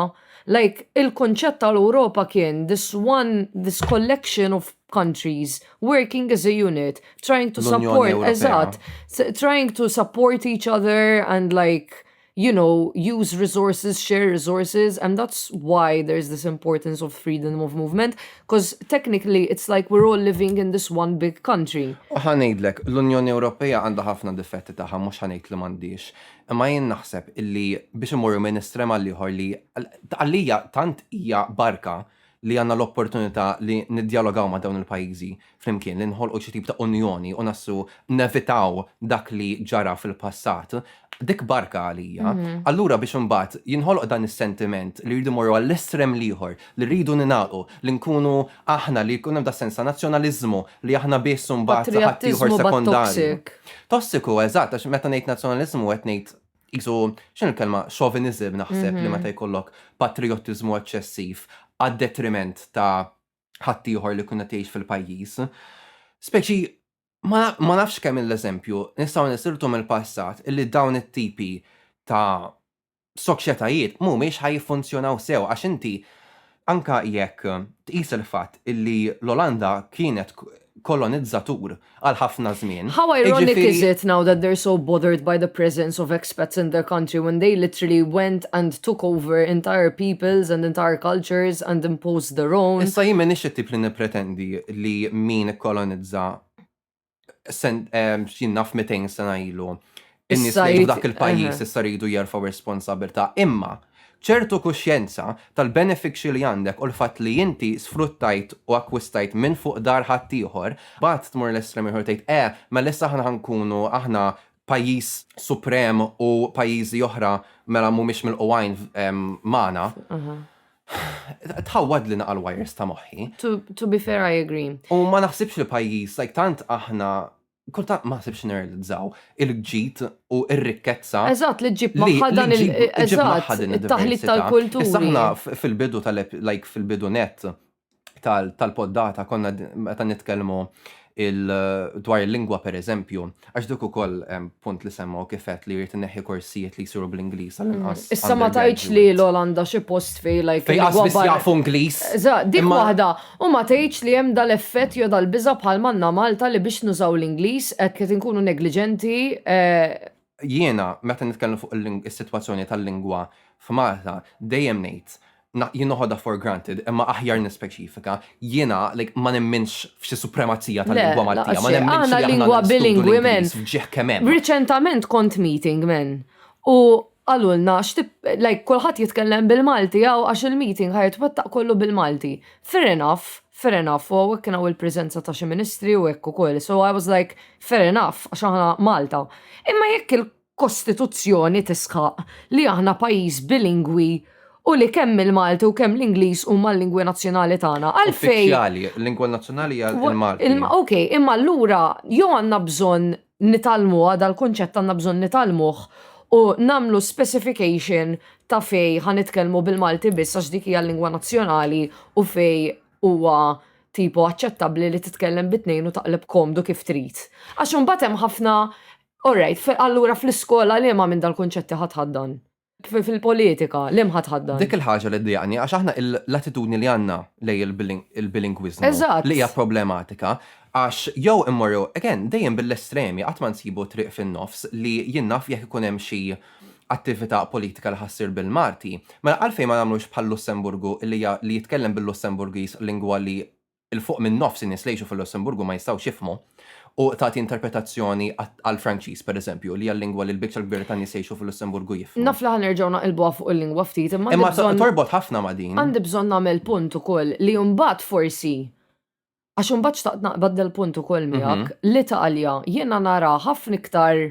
Like, il-konċett tal-Europa kien this one, this collection of countries working as a unit, trying to support, eżat, trying to support each other and like you know, use resources, share resources, and that's why there's this importance of freedom of movement, because technically it's like we're all living in this one big country. U ħanejdlek, l-Unjoni Ewropea għandha ħafna difetti taħħa, mhux ħanejd li m'għandix. Imma jien naħseb illi biex imorru minn estrema liħor li għalija tant hija barka li għandna l-opportunità li niddjalogaw ma' dawn il-pajjiżi flimkien, li nħolqu xi tip ta' unjoni u nassu nevitaw dak li ġara fil-passat, dik barka għalija. Mhm. Allura biex imbagħad jinħoloq dan is-sentiment li rridu morru għall-estrem l-ieħor, li rridu ningħalqu, li nkunu aħna li jkun hemm da sens ta' nazzjonaliżmu li aħna biss imbagħad ħaddieħor sekondari. Tossiku, eżatt, għax meta ngħid nazzjonaliżmu qed ngħid Qisu, x'inhi l-kelma, chauvinism naħseb li meta jkollok patrijottiżmu eċċessiv għad-detriment ta' ħaddieħor li jkun qed jgħix fil-pajjiż. Speċi ma nafx kemm l-eżempju nistgħu nisirtu mill-passat illi dawn it-tipi ta' soċjetajiet mhumiex ħa jiffunzjonaw sew għax inti Anke jekk tqis il-fatt li l-Olanda kienet kolonizzatur għal ħafna żmien, How ironic is it now that they're so bothered by the presence of expats in their country when they literally went and took over entire peoples and entire cultures and imposed their own. Issa jien m'iniex it-tip li nippretendi li min ikkolonizza x'jien naf 200 sena ilu. In-nies li dak il-pajjiż issa rridu jerfgħu responsabilità. Imma ċertu kuxjenza tal-benefiċċji li għandek u l-fatt li inti sfruttajt u akkwistajt minn fuq dar ħaddieħor, mbagħad tmur l-estrem ieħor tgħid, eh, mela issa aħna ħankunu aħna pajjiż suprem u pajjiżi oħra mela mhumiex milquwajn magħna. Tħawwad li naqal wires ta' moħħi. To be fair, I agree. U ma naħsibx li pajjiż, like tant aħna kultant ma sibx nirrealizzaw il-ġid u r-rikkezza. Eżatt, li ġib maħħa dan il-taħlit tal-kultura. Saħna fil-bidu tal-like fil-bidu net tal-poddata konna meta nitkellmu dwar il-lingwa per eżempju, għax dik ukoll punt li semmaw kifet li jrid neħi korsijiet li jsiru bl-Ingliż għal inqas. Mm. Issa ma tajċ li l-Olanda xi post fej like. Fej għasbis jafu Ingliż. Dik waħda, u ma tajċ li hemm dal-effett jew dal-biża bħal manna Malta li biex nużaw l-Ingliż qed li tinkunu negliġenti eh, Jiena meta nitkellem fuq is-sitwazzjoni tal-lingwa f'Malta dejjem ngħid jien noħodha for granted imma aħjar nispeċifika, jiena like ma nemminx f'xi supremazija tal-lingwa Maltija, ma nemminx li aħna lingwa bilingwi men. Ġieħ kemm hemm. Riċentament kont meeting men u qalulna like kulħadd jitkellem bil-Malti hawn għax il-meeting ħajtwettaq kollu bil-Malti. Fair enough, Fair enough, u hawnhekk kien hawn il-preżenza ta' xi ministri u hekk ukoll, so I was like, fair enough, għax aħna Malta. Imma jekk il-Kostituzzjoni tisħaq li aħna pajjiż bilingwi u li kemm il-Malti u kemm l-Ingliż huma l-lingwi nazzjonali tagħna, għalfejn. Uffiċjali, l-lingwa nazzjonali hija l-Malti. Ok, imma allura jew għandna bżonn nitgħallmuha, dal-kunċett għandna bżonn nitgħallmuh u nagħmlu specification ta' fejn ħa nitkellmu bil-Malti biss għax dik hija l-lingwa nazzjonali u fejn huwa tipo aċċettabbli li titkellem bi tnejn u taqleb komdu kif trid. Għax imbagħad hemm ħafna Alright, allura fl-iskola liema minn dal-kunċetti ħa tħaddan? Fil-politika, l-imħ ħa tħaddan. Dik il-ħaġa li ddejjaqni għax aħna l-attitudni li għandna lejn il-bilingwiżmu li hija problematika għax jew immorru, again, dejjem bil-estremi qatt ma nsibu triq fin-nofs li jien naf jekk ikun hemm xi attività politika li ħa ssir bil-Malti, mela għalfejn ma nagħmlux bħal-Lussemburgu li jitkellem bil-Lussemburgiż lingwa li 'il fuq minn nofs in-nies li jgħixu fil-Lussemburgu ma jistgħux jifhmu, u tagħti interpretazzjoni għall-Franċiż, pereżempju, li hija l-lingwa li l-biċċa l-kbira tan-nies li jgħixu fil-Lussemburgu jifhmu. Naf li ħa nerġgħu naqilbuha fuq il-lingwa ftit, imma għandi bżonn. Imma torbot ħafna ma' din. Għandi bżonn nagħmel punt ukoll li mbagħad forsi għax imbagħad xtaqt naqbad dal-punt ukoll miegħek, l-Italja jiena nara ħafna iktar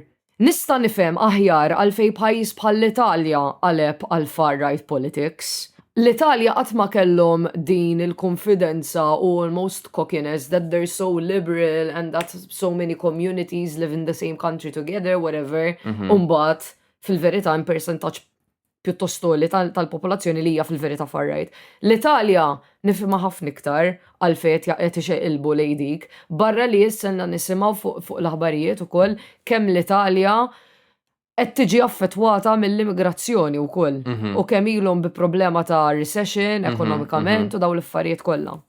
Nista' nifhem aħjar għalfejn pajjiż bħall-Italja qaleb għall-far-right politics. L-Italja qatt ma kellhom din il-kunfidenza u almost cockiness that they're so liberal and that so many communities live in the same country together, whatever, u mbagħad fil-verità hemm persentaġġ pjuttost għoli tal-popolazzjoni li hija fil-verità far right. L-Italja nifhimha ħafna iktar għal fejn qed ixeqilbu lejn dik, barra li jisselna nisimgħu fuq l-aħbarijiet ukoll kemm l-Italja qed tiġi affettwata mill-immigrazzjoni wkoll mhm. u kemm ilhom bi problema ta' recession mhm, ekonomikament mhm. u dawn l-affarijiet kollha.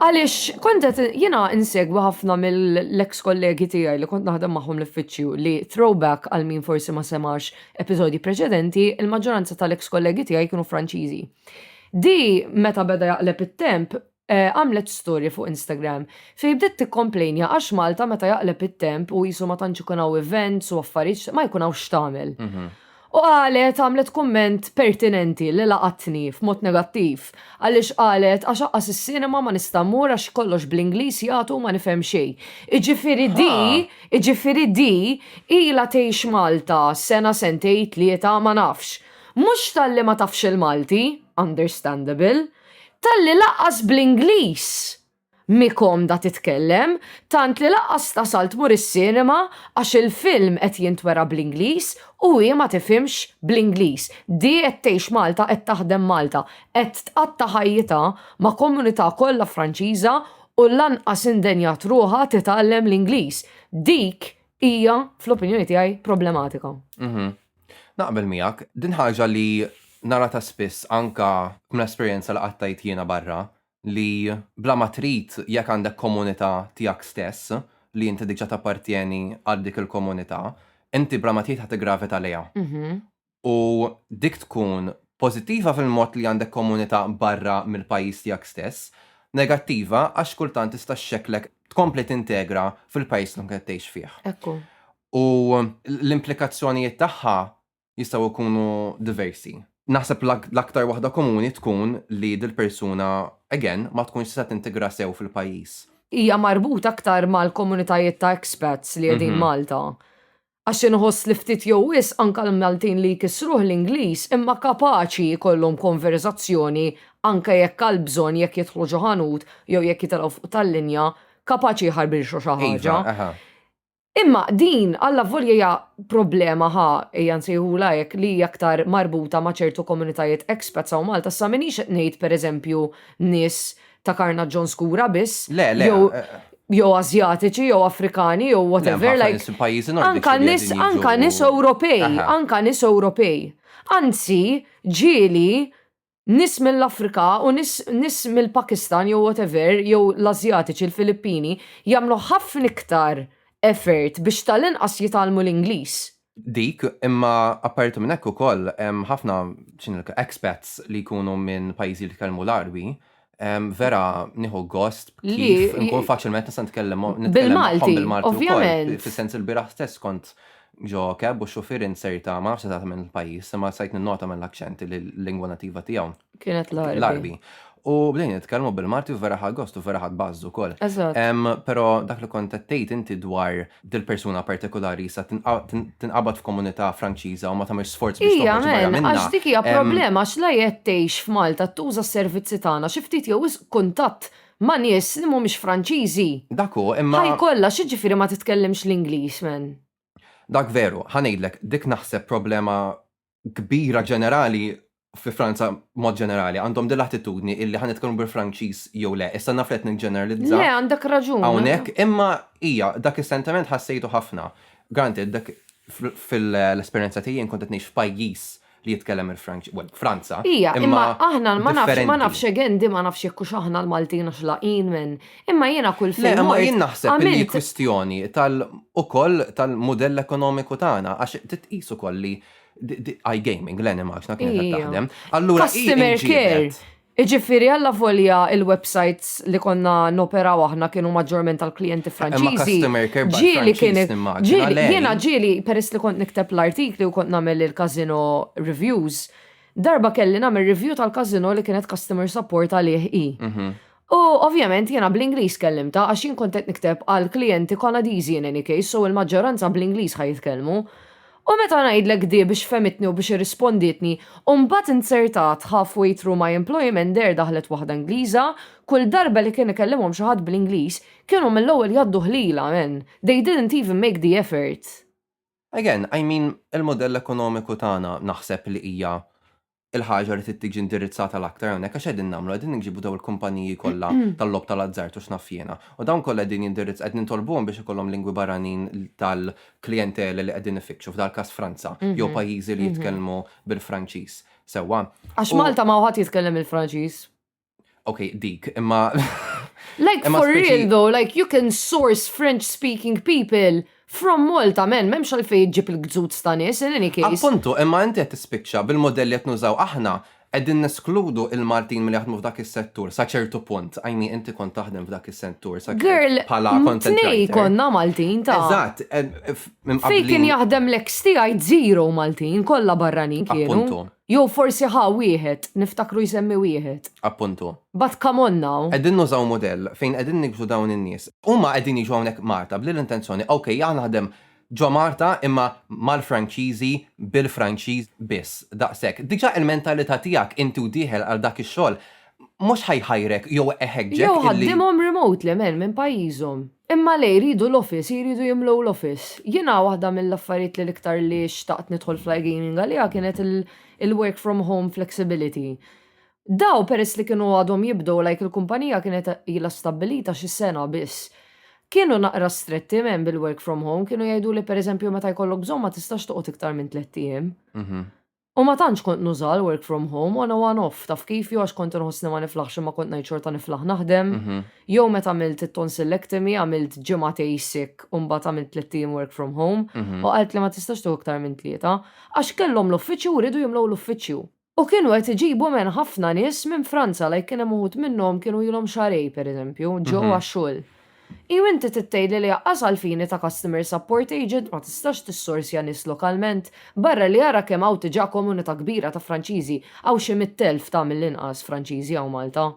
Għaliex kont qed jiena insegwi ħafna mill-eks kollegi tiegħi li kont naħdem magħhom l-uffiċċju li throwback għal min forsi ma semax episodji preċedenti, il-maġġoranza tal-eks kollegi tiegħi kienu Franċiżi. Di meta beda jaqleb it-temp eh, għamlet storja fuq Instagram fejn bdiet tikkomplejnja għax Malta meta jaqleb it-temp u qisu ma tantx ikun hawn events u affarijiet ma jkun hawn x'tagħmel. Mhm. U qalet għamlet kumment pertinenti li laqatni f'mod negattiv għaliex qalet għax aqqas is-cinema ma nista' mmur għax kollox bl-Ingliż jagħtu u ma nifhem xejn. Iġifieri di, iġifieri di ilha tgħix Malta sena sentejn tlieta ma nafx. Mhux talli ma tafx il-Malti, understandable, talli laqqas bl-Ingliż Mhi komda titkellem, tant li lanqas tasal tmur is-cinema għax il-film qed jintwera bl-Ingliż u hi ma tifhimx bl-Ingliż. Di qed tgħix Malta qed taħdem Malta, qed tqatta' ħajjitha ma' komunità kollha Franċiża u lanqas indenjat ruħha titgħallem l-Ingliż. Dik hija fl-opinjoni tiegħi problematika. Naqbel miegħek. Din ħaġa li naratha spiss anka minn esperjenza li qattajt jiena barra, li bla ma trid jekk għandek komunità tiegħek stess li inti diġà tappartjeni għal dik il-komunità, inti bla ma trid ħa tiggravita lejha. U dik tkun pożittiva fil-mod li għandek komunità barra mill-pajjiż tiegħek stess, negattiva għax kultant tista' xxekklek tkompli tintegra fil-pajjiż li tkun qed tgħix fih. U l-implikazzjonijiet tagħha jistgħu jkunu diversi. Naħseb l-aktar waħda komuni tkun li dil-persuna, again, ma tkunx setgħet tintegra sew fil-pajjiż. Hija marbuta aktar mal-komunitajiet ta' expats li qegħdin Malta. Għax inħoss li ftit jew wisq anke l-Maltin li jkissruh l-Ingliż imma kapaċi jkollhom konverżazzjoni anke jekk għall-bżonn jekk jidħlu xi ħanut jew jekk jitilgħu fuq tal-linja, kapaċi jħarbilxu xi ħaġa. Iva, eħe. Imma din, allavolja hija problema ħa, ejja nsejħulha hekk, li hija aktar marbuta ma' ċertu komunitajiet expats hawn Malta, issa m'iniex qed ngħid pereżempju nies ta' karnaġġon skura biss, jew jew Asjatiċi jew Afrikani jew whatever like anka nies anka nies Ewropej, anka nies Ewropej. Anzi, ġieli Nies mill-Afrika u nies nies mill-Pakistan jew whatever jew l-Asjatiċi l-Filippini jagħmlu ħafna iktar effort biex tal-inqas jitgħallmu l-Ingliż. Dik, imma apparti minn hekk ukoll hemm ħafna x'inhi expats li jkunu minn pajjiżi li jitkellmu l-Għarbi Vera, nieħu gost, kif nkun faċilment nista' nitkellem bil-Malti. Bil-Malti, ovvjament. Fis-sens il-biraħ stess kont ġo keb u xufier inserta, ma nafx eżatt minn il-pajjiż, imma sajt nota minn l-akċenti li l-lingwa nativa tiegħu. Kienet l-Arbi. U bdejn nitkellmu bil-Malti u vera ħagost u vera ħadd bażżu wkoll. Eżatt. Però dak li kont qed tgħid inti dwar dil-persuna partikolari sa tinqabad f'komunità Franċiża u ma tagħmilx sforz biex Ija, men, għax dik hija problema għax la qed tgħix f'Malta tuża s-servizzi tagħna xi ftit jew wisq kuntatt ma' nies li mhumiex Franċiżi. Dak hu, imma. Ħaj kollha x'jiġifieri ma titkellimx l-Ingliż, men? Dak veru, ħa ngħidlek, dik naħseb problema kbira ġenerali fi Franza mod ġenerali għandhom din l-attitudni illi ħan nitkellmu bil-Franċiż jew le. Issa naf qed niġġeneralizza. Le, għandek raġun. Hawnhekk, imma hija dak is-sentiment ħassejtu ħafna. Granted, dak fil-esperjenza tiegħi jien kont qed ngħix f'pajjiż li jitkellem il-Franċiż, well, Franza. Hija, imma aħna ma nafx ma nafx again di ma nafx jekk hux aħna l-Maltin għax laqin minn Imma jiena kull fejn. Le, imma jien naħseb li kwistjoni tal ukoll tal-mudell ekonomiku tagħna għax titqis ukoll li iGaming, l-animals, na kienet taħdem. Allura, customer care. Iġifiri għalla volja il-websites li konna noperaw aħna kienu maġġorment tal-klienti franċiżi. Ġili kien. Jiena ġili, peress li kont nikteb l-artikli u kont namel il-kazino reviews, darba kelli namel review tal-kazino li kienet customer support għalih i. Mhm. U ovvjament jiena bl-Ingliż kellimta għax jien kont qed nikteb għal klijenti Kanadiżi in any case so il-maġġoranza bl-Ingliż ħa jitkellmu. U meta ngħidlek di biex fehmitni u biex irrispondietni u mbagħad inzertat half way through my employment there daħlet waħda Ingliża, kull darba li kien ikellimhom xi ħadd bl-Ingliż kienu mill-ewwel jgħaddu ħliela man, they didn't even make the effort. Again, I mean il-mudell ekonomiku tagħna naħseb li hija il-ħaġa li tittiġi indirizzata l-aktar hawnhekk għax qegħdin nagħmlu qegħdin nġibu daw il-kumpaniji kollha tal-lob tal-azzart u x'naf jiena. U dawn kollha qegħdin jindirizz qed nitolbuhom biex ikollhom lingwi barranin tal-klijentela li qegħdin ifittxu f'dal-każ Franza jew pajjiżi li jitkellmu bil-Franċiż. Sewwa. Għax Malta ma hu ħadd jitkellem il-Franċiż. Ok, dik, imma. Like for real though, like you can source French speaking people from Malta, men, memx għalfej ġib il-gżut ta' nis, in any case. Appuntu, imma inti għet tispicċa bil-modelli għet nużaw aħna, għedin neskludu il-Maltin mill jaħdmu f'dak il-settur, sa ċertu punt, għajmi inti kont taħdem f'dak il-settur, sa Girl, pala kontnej konna Maltin ta' Eżat, eh, fej kien jaħdem l-ex tijaj zero Maltin, kolla barranin kienu. Appuntu. Jew forsi ħa wieħed, niftakru jsemmi wieħed. Appuntu. But come on now. Qegħdin nużaw mudell fejn qegħdin niksru dawn in-nies. Huma qegħdin jiġu hawnhekk Malta bl-intenzjoni, ok, jien naħdem ġo Malta imma mal-Franċiżi, bil-Franċiż biss, daqshekk. Diġà il-mentalità tiegħek inti u dieħel għal dak ix-xogħol mhux ħa jħajrek jew iħeġġek illi. Jew ħaddimhom remotely, man, minn pajjiżhom. Imma le jridu l-office, jridu jimlew l-office. Jiena waħda mill-affarijiet li l-iktar li xtaqt nidħol fl-iGaming għaliha kienet il-work from home flexibility. Daw peress li kienu għadhom jibdew like il-kumpanija kienet ilha stabbilita xi sena biss. Kienu naqra stretti m'hemm bil-work from home, kienu jgħiduli pereżempju meta jkollok bżonn ma tistax toqgħod iktar minn tlett ijiem. U ma tantx kont nuża l-work from home on a one off, taf kif, jew għax kont inħossni ma niflaħx imma kont ngħid xorta niflaħ naħdem, jew meta għamilt it-tonsillectomy għamilt ġimagħtej sick u mbagħad għamilt tliet ijiem work from home u qalt li ma tistax tieħu iktar minn tlieta, għax kellhom l-uffiċċju u riedu jimlew l-uffiċċju. U kienu qed iġibu men ħafna nies minn Franza like kien hemm uħud minnhom kienu ilhom xahrejn pereżempju ġew għax-xogħol. Iju inti trid tgħidli li aqqas għall-fini ta' customer support agent ma tistax tissorsja nies lokalment? Barra li ara kemm hawn tiġà komunità kbira ta' Franċiżi, hawn xi mitt elf ta' mill-inqas Franċiżi hawn Malta.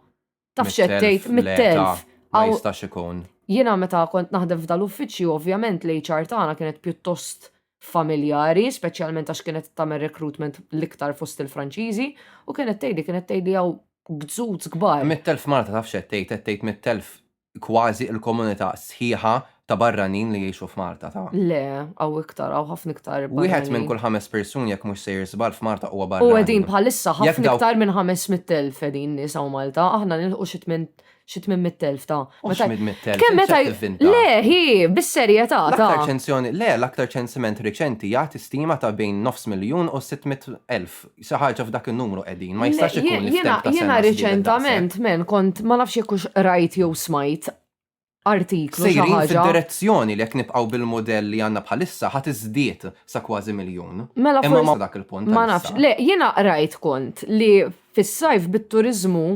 Taf x'qed tgħid? Mitt elf! Ma jistax ikun. Jiena meta kont naħdem f'dal-uffiċċju ovvjament l-HR tagħna kienet pjuttost familjari, speċjalment għax kienet tagħmel recruitment l-iktar fost il-Franċiżi, u kienet tgħidli kienet tgħidli hawn gzuz kbar. Mitt elf Malta taf x'qed tgħid, qed tgħid mitt elf kważi il-komunità sħiħa ta' barranin li jgħixu f'Malta, ta'. Le, hawn iktar, hawn ħafna iktar barranin. Wieħed minn kull ħames persuni jekk mhux sejjer żball f'Malta huwa barrani. U qegħdin bħalissa ħafna iktar minn 500,000 qegħdin nies hawn Malta, aħna nilħqu xi tmien xi 800,000 ta'. Mhux 800,000. Kemm meta Le, hi, bis-serjetà ta'. L-aktar ċensjoni, le, l-aktar ċensiment riċenti jagħti stima ta' bejn nofs miljun u 600,000. Sa ħarġa f'dak in-numru qegħdin, ma jistax ikun li f'temp ta' sena. Jiena riċentament men kont ma nafx jekk hux qrajt jew smajt artiklu xi ħaġa. Fid-direzzjoni li jekk nibqgħu bil-mudell li għandna bħalissa ħadd iżdied sa kważi miljun. Mela forsi. Imma dak il-punt. Ma nafx. Le, jiena qrajt kont li fis-sajf bit-turiżmu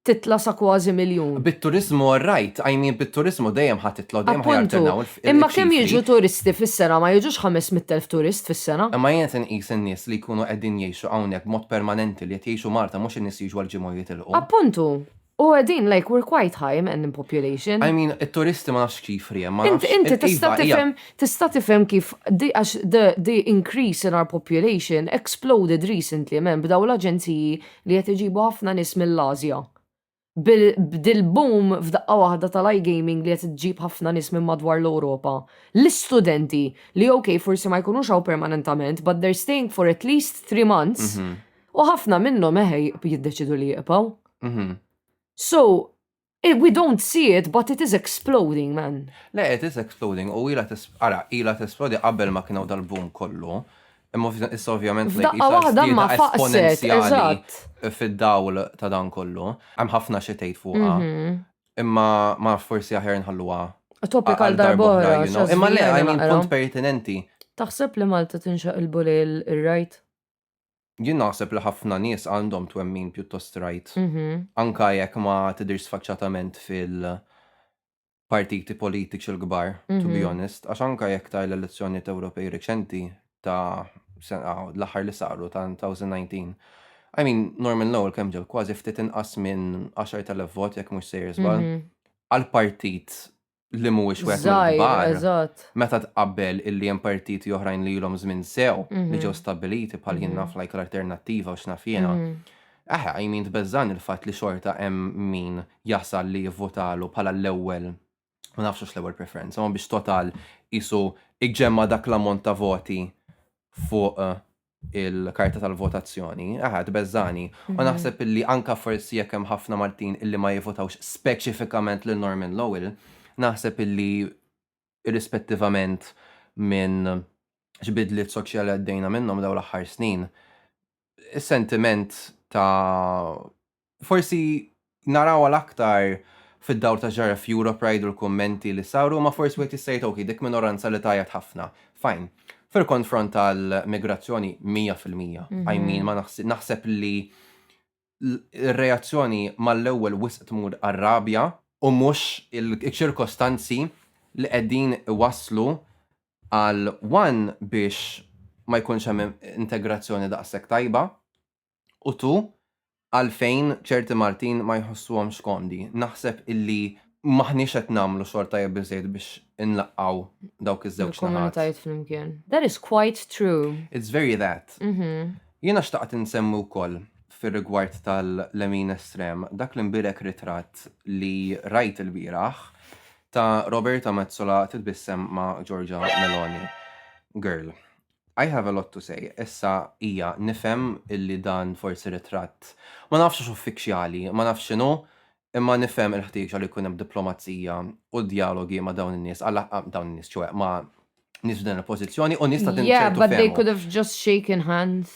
titla' sa kważi miljun. Bit-turiżmu orrajt, I mean bit-turiżmu dejjem ħa titla' u dejjem ħa jarternaw il-ċifri. Appuntu, imma kemm jiġu turisti fis-sena, ma jiġux ħames mitt elf turist fis-sena? Imma jien se nqis in-nies li jkunu qegħdin jgħixu hawnhekk b'mod permanenti li qed jgħixu Malta mhux in-nies li jiġu għal ġimgħa u jitilqu. Appuntu! U qegħdin like we're quite high man in population. I mean it-turisti ma nafx x'ċifri hemm, ma nafx, iva, hija. Inti tista' tifhem kif għax the increase in our population exploded recently man b'dawn l-aġenziji li qed iġibu ħafna nies mill-Ażja. B'dil-boom f'daqqa waħda tal-iGaming li qed iġġib ħafna nies minn madwar l-Ewropa, l-istudenti, li ok forsi ma jkunux hawn permanentament but they're staying for at least three months, u ħafna minnhom eħe jiddeċidu li jibqgħu. So, Eh, we don't see it, but it is exploding, man. Le, it is exploding, u ila ara, ila t-esplodi qabel ma kienaw dal-boom kollu. Imma issa ovvjament li jisa waħda ma esponenzjali fid-dawl ta' dan kollu. Hemm ħafna xi tgħid fuqha. Mhm. Imma ma forsi aħjar nħalluha. Topik għal darbora. Imma le, għajmin punt pertinenti. Taħseb li Malta tinxaq il-bulej il-rajt? Jien naħseb li ħafna nies għandhom twemmin pjuttost strajt, anke jekk ma tidhirx sfaċċatament fil-partiti politiċi l-kbar, to be honest, għax anke jekk ta' l-elezzjonijiet Ewropej reċenti ta' l-aħħar li saru ta' 2019, I mean, Norman Lowell kemm ġab kważi ftit inqas minn 10,000 vot, jekk mhux sejjer żball, għal partit li mhuwiex wieħed mill-kbar. Meta tqabbel illi hemm partiti oħrajn li ilhom żmien sew li mhm. ġew stabbiliti bħal jien mhm. naf like l-alternattiva u x'naf jiena. Mhm. Aħe, I mean tbeżżan il-fatt li xorta hemm min jasal li jivvotalu bħala l-ewwel ma nafx hux l-ewwel preferenza, ma biex total isu iġġemma dak l-ammont ta' voti fuq eh, il-karta tal-votazzjoni, aha, tbeżżani. U mhm. naħseb illi anka forsi jekk hemm ħafna Maltin illi ma jivotawx speċifikament lil Norman Lowell, naħseb illi irrispettivament minn xbidliet soċjali għaddejna minnhom daw l-aħħar snin, is-sentiment ta' Forsi narawha l-aktar fid-dawl ta' x'ġara f'Europe Ride u l-kummenti li saru imma forsi wieħed jista' jgħid ok, dik minoranza li tgħajjat ħafna. Fine. Fil-konfront tal-migrazzjoni, mija fil-mija. I mean, ma naħsibx, naħseb li r-reazzjoni mal-ewwel wisq tmur għar-rabja u mhux iċ-ċirkostanzi li qegħdin iwasslu għal one biex ma jkunx hemm integrazzjoni daqshekk tajba U tu? Għalfejn ċerti Maltin ma jħossuhomx komdi? Naħseb illi m'aħniex qed nagħmlu xogħol tajjeb biżżejjed biex inlaqqgħu dawk iż-żewġ naħat. Il-komunitajiet flimkien. That is quite true. It's very that. Jiena xtaqt insemmi wkoll fir-rigward tal-lemin estrem dak l-imbierek ritratt li rajt ilbieraħ ta' Roberta Metsola titbissem ma' Giorgia Meloni. Girl. I have a lot to say. Issa, ija, nifhem illi dan forsi ritratt, ma nafx hux uffiċjali, ma nafx x'inhu, imma nifhem il-ħtieġa li jkun hemm diplomazija u djalogi ma' dawn in-nies, dawn in-nies, ċoe, ma' nies f'din il-pożizzjoni u nies ta' din ċertu fehma. Yeah, but they could have just shaken hands.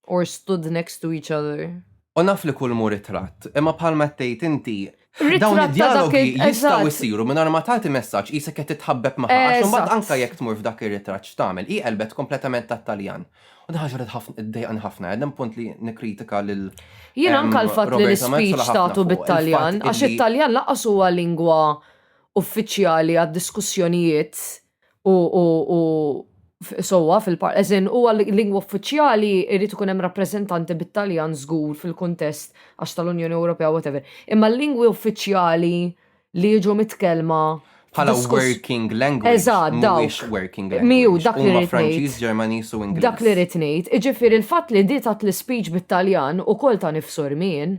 Or stood next to each other. U naf li kull mhu ritratt, imma bħalma qed tgħid inti, dawn Ritratt ta' dak id-djalogi il- jistgħu eżatt. jsiru mingħajr ma tagħti messaġġ qisek qed titħabbeb magħha għax imbagħad Eżatt. anke jekk tmur f'dak ir-ritratt x'tagħmel? Hi qelbet kompletament tat-Taljan. U din ħaġa li tħaf- iddejjaqni ħafna, qegħdin punt li nikkritika lil Jien ehm, anke l-fatt li Roberta Metsola l-ispeech ħafna tagħtu fuq bit-Taljan, il-fatt għax illi it-Taljan lanqas huwa lingwa uffiċjali għad-diskussjonijiet U, u, u sowa fil-par, eżin u għal-lingwa uffiċjali irrid ikun hemm rappreżentanti bit-Taljan żgur fil-kuntest għax tal-Unjoni Ewropea whatever. Imma l-lingwi uffiċjali li jiġu mitkellma bħala working language. Eżatt, dawk. working language. Miju, dak li rrid. Franċiż, Ġermaniż u Ingliż. Dak li rrid ngħid, iġifieri l-fatt li di tat l-ispeech bit-Taljan ukoll ta' nifsu rmien.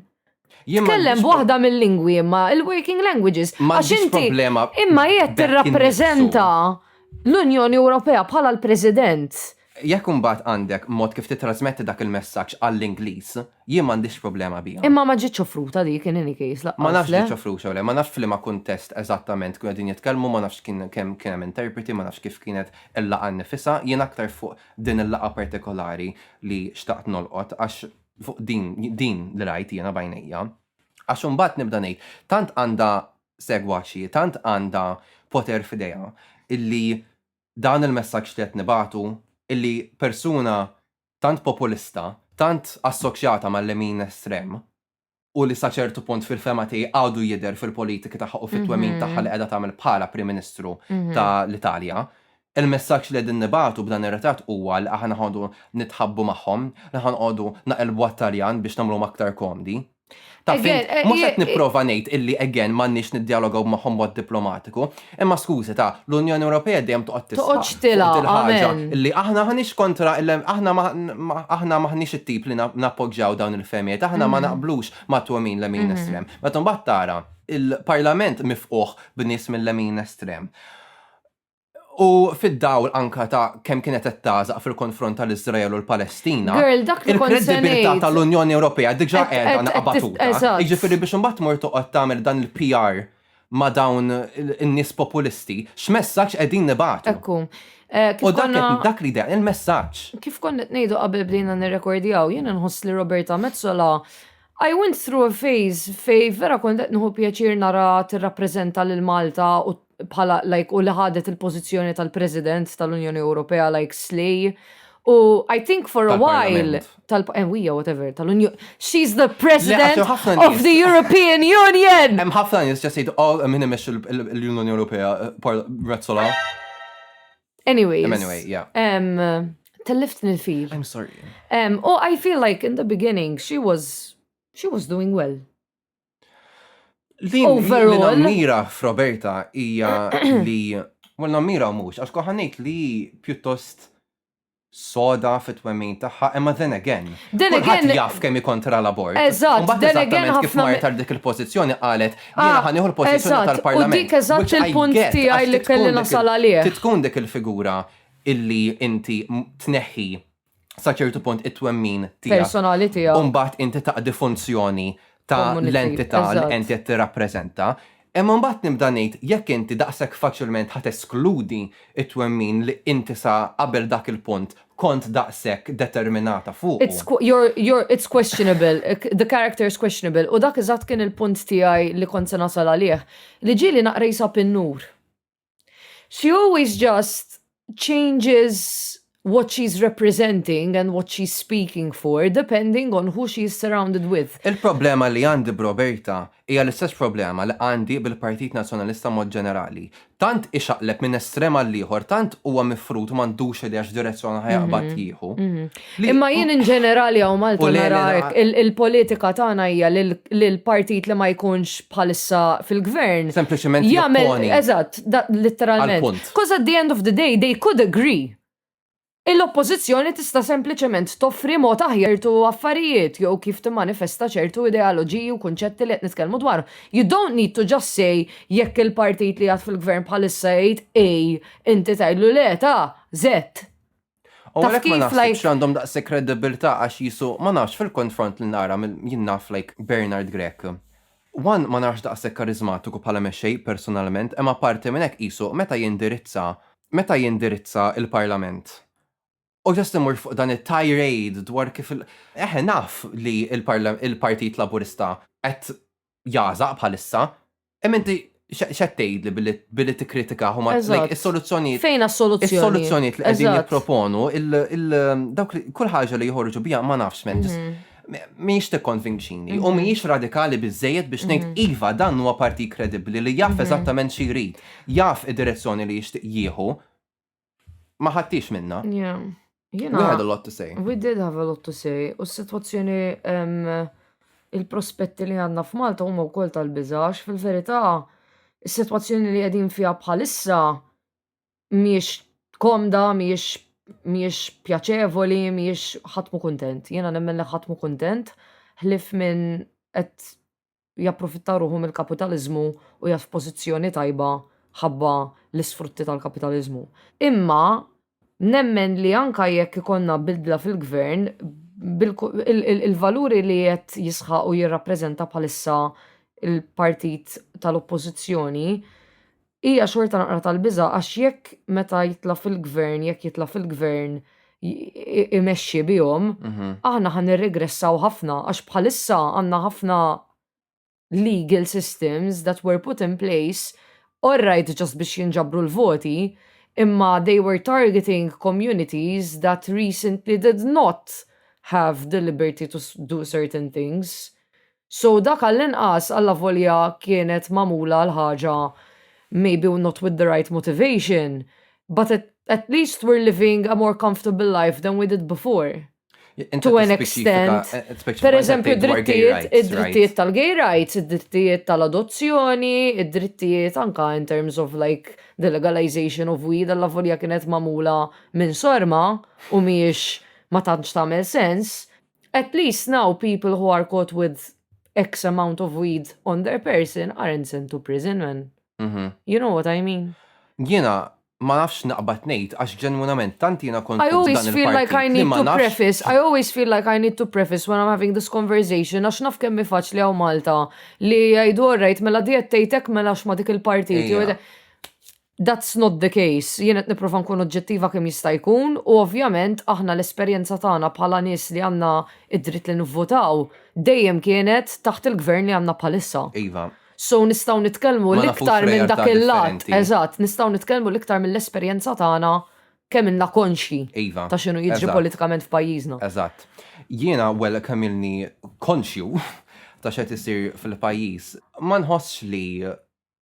Tkellem b'waħda mill-lingwi imma il-working languages. Għax inti imma qiegħed tirrappreżenta l-Unjoni Ewropea bħala l-President. Jekk imbagħad għandek mod kif titrasmetti dak il-messaġġ għall-Ingliż, jien m'għandix problema biha. Imma ma ġietx offruta dik in any case laqqas. Ma nafx ġietx offruta le, ma nafx f'liema kuntest eżattament kienu qegħdin jitkellmu, ma nafx kien kemm kien hemm interpreti, ma nafx kif kienet il-laqgħa nnifisha, jien aktar fuq din il-laqgħa partikolari li xtaqt nolqot għax fuq din, din li rajt jiena bajnejja. Għax imbagħad nibda ngħid, tant għandha segwaċi, tant għandha poter f'idejha illi dan il-messaġġ li qed nibatu illi persuna tant populista, tant assoċjata mal-lemin estrem, u li sa ċertu punt fil-fehma tiegħi għadu jidher fil-politiki tagħha u fit-twemmin tagħha li qiegħda tagħmel bħala Prim Ministru ta' l-Italja. Il-messaġġ li qegħdin nibagħtu b'dan ir-ritratt huwa li aħna ħanoqogħdu nitħabbu magħhom, li ħanoqogħdu naqilbu għat-Taljan biex nagħmluhom aktar komdi. Taf int, mhux qed nipprova ngħid illi again m'għandniex niddjalogaw magħhom b'mod diplomatiku, Imma skużi ta, l-Unjoni Ewropea dejjem toqgħod tisħaq. Toqgħodx tilha, amen. Li aħna ħaniex kontra aħna aħna maħniex it-tip li nappoġġjaw dawn il-fehmiet, aħna ma naqblux ma' twemmin lemin estrem. Meta mbagħad tara il-Parlament mifquħ b'nies mill-lemin estrem. U fid-dawl anka ta' kemm kienet qed tagħżaq fil-konfront tal-Iżrael u l-Palestina, il-kredibilità tal-Unjoni Ewropea diġà qiegħda naqbatuta. Jiġifieri biex imbagħad tmur toqgħod tagħmel dan il-PR ma' dawn in-nies populisti, x'messaġġ qegħdin nibagħtu. Hekk hu. U dak li jdeqq il-messaġġ. Kif kont qed ngħidu qabel bdejna nirrekordjaw, jien inħoss li Roberta Metsola I went through a phase fejn vera kont qed nieħu pjaċir nara tirrappreżenta lil Malta u bħala like u li ħadet il-pożizzjoni tal-President tal-Unjoni Ewropea like slay u I think for a while tal-Enwija, eh, whatever, tal-Unjoni. She's the president of the European Union! Hemm ħafna nies ġa sejdu all minn imexx l-Unjoni Ewropea eh, Razzola. Anyways. Anyway, yeah. Um, tellift nil-fil. I'm sorry. Um, oh, I feel like in the beginning she was she was doing well. Din overall. Mira f'Roberta hija li well nammira mhux għax koħanejt li pjuttost soda fit-twemmin tagħha, imma then again. Then again. jaf kemm kontra l-abort. Eżatt, then again ħafna. Kif marret għal dik il-pożizzjoni qalet, ah, jiena ħanieħu l-pożizzjoni tal-Parlament. U dik eżatt il-punt tiegħi li kelli nasal għalih. Tkun dik il-figura illi inti tneħħi sa ċertu punt it-twemmin tiegħek. Personali tiegħek. Umbagħad inti taqdi funzjoni ta' l-entità li inti qed tirrappreżenta. Imma mbagħad nibda ngħid jekk inti daqshekk faċilment ħa teskludi t-twemmin li inti sa qabel dak il-punt kont daqshekk determinata fuqu. It's questionable, the character is questionable u dak eżatt kien il-punt tiegħi li kont se nasal għalih, li ġieli naqra jsab in-nur. She always just changes what she's representing and what she's speaking for depending on who she's surrounded with. Il-problema li għandi b'Roberta hija l-istess problema li għandi bil-Partit Nazzjonalista mod ġenerali. Tant ixaqleb minn estrem għall-ieħor, tant huwa mifrud u m'għandux idea x'direzzjoni ħa jaqbad jieħu. Imma jien in ġenerali hawn Malta nara hekk, il-politika tagħna hija li l-partit li ma jkunx bħalissa fil-gvern. Sempliċement jopponi. Eżatt, litteralment. Because at the end of the day they could agree. Il-Oppożizzjoni tista' sempliċement toffri mod aħjar ċertu affarijiet jew kif timmanifesta ċertu ideoloġiji u kunċetti li qed nitkellmu dwarhom. You don't need to just say jekk il-partit li qiegħed fil-gvern bħalissa jgħid A inti tgħidlu le ta' Z. U Taf għalhekk ma kif, naħsibx like- li għandhom daqshekk kredibilità għax jisu ma nafx fil-konfront li nara mill- jien naf like Bernard Grech. One ma narax daqshekk karizmatiku bħala mexxej personalment, imma apparti minn hekk qisu meta jindirizza meta jindirizza l-Parlament u just imur fuq dan it-tirade dwar kif il- eħe naf li l-parla- il-Partit Laburista qed jagħżaq bħalissa, hemm inti x'qed tgħidli billi billi tikkritika huma Eżatt. is-soluzzjonijiet Fejn għas-soluzzjoni? Is-soluzzjonijiet li qegħdin Eżatt. jipproponu, il- il- dawk li- kull ħaġa li joħorġu biha ma nafx men, ġis- Mhm. m- mhijiex tikkonvinċini u mhijiex radikali biżejjed biex ngħid Mhm. iva dan huwa partit kredibbli li jaf eżattament xi jrid, jaf id-direzzjoni li jixtieq jieħu. ma ħattix minna. Yeah. You know, we had a lot to say. We did have a lot to say. U s-situazzjoni il-prospetti li għanna f'Malta huma wkoll tal-biżax, fil-verità, is-sitwazzjoni li qegħdin fiha bħalissa miex komda, miex miex pjaċevoli, miex ħatmu kontent. Jena nemmen li ħatmu kontent, ħlif minn qed japprofitta ruħu mill-kapitaliżmu u jaf f'pożizzjoni tajba ħabba l-isfrutti tal-kapitaliżmu. Imma nemmen li anka jekk ikonna bidla fil-gvern, il-valuri li qed jisħaq u jirrappreżenta bħalissa il-partit tal-oppożizzjoni Hija xorta naqra tal-biża' għax jekk meta jitla' fil-gvern, jekk jitla' fil-gvern imexxi bihom, aħna ħa nirregressaw ħafna għax bħalissa għandna ħafna legal systems that were put in place all right just biex jinġabru l-voti imma they were targeting communities that recently did not have the liberty to do certain things. So dak għall-inqas, allavolja kienet magħmula l-ħaġa maybe not with the right motivation, but at at least we're living a more comfortable life than we did before. To an extent, per eżempju, id-drittijiet tal-gay rights, id-drittijiet tal-adozzjoni, id-drittijiet anka in terms of like the legalization of weed, alla volja kienet mamula minn sorma u miex ma tantx tagħmel sens, At least now people who are caught with X amount of weed on their person aren't sent to prison, man. You know what I mean? Jiena ma nafx naqbad ngħid għax ġenwinament tant jiena kont kontra dan il-partit li ma nafx. I always feel like I need to preface, I always feel like I need to preface when I'm having this conversation għax naf kemm hi faċli hawn Malta li jgħidu alright mela di qed tgħid hekk mela għax ma dik il-partit. That's not the case. Jien qed nipprova nkun oġġettiva kemm jista' jkun u ovvjament aħna l-esperjenza tagħna bħala nies li għandna d-dritt li nivvutaw dejjem kienet taħt il-Gvern li għandna bħalissa. Iva. So nistgħu nitkellmu l-iktar minn dak il-lat. Eżatt, nistgħu nitkellmu l-iktar mill-esperjenza tagħna kemm ilna konxji ta' x'inhu jiġri politikament f'pajjiżna. Eżatt. Jiena, well, kemm ilni konxju ta' x'qed isir fil-pajjiż, ma nħossx li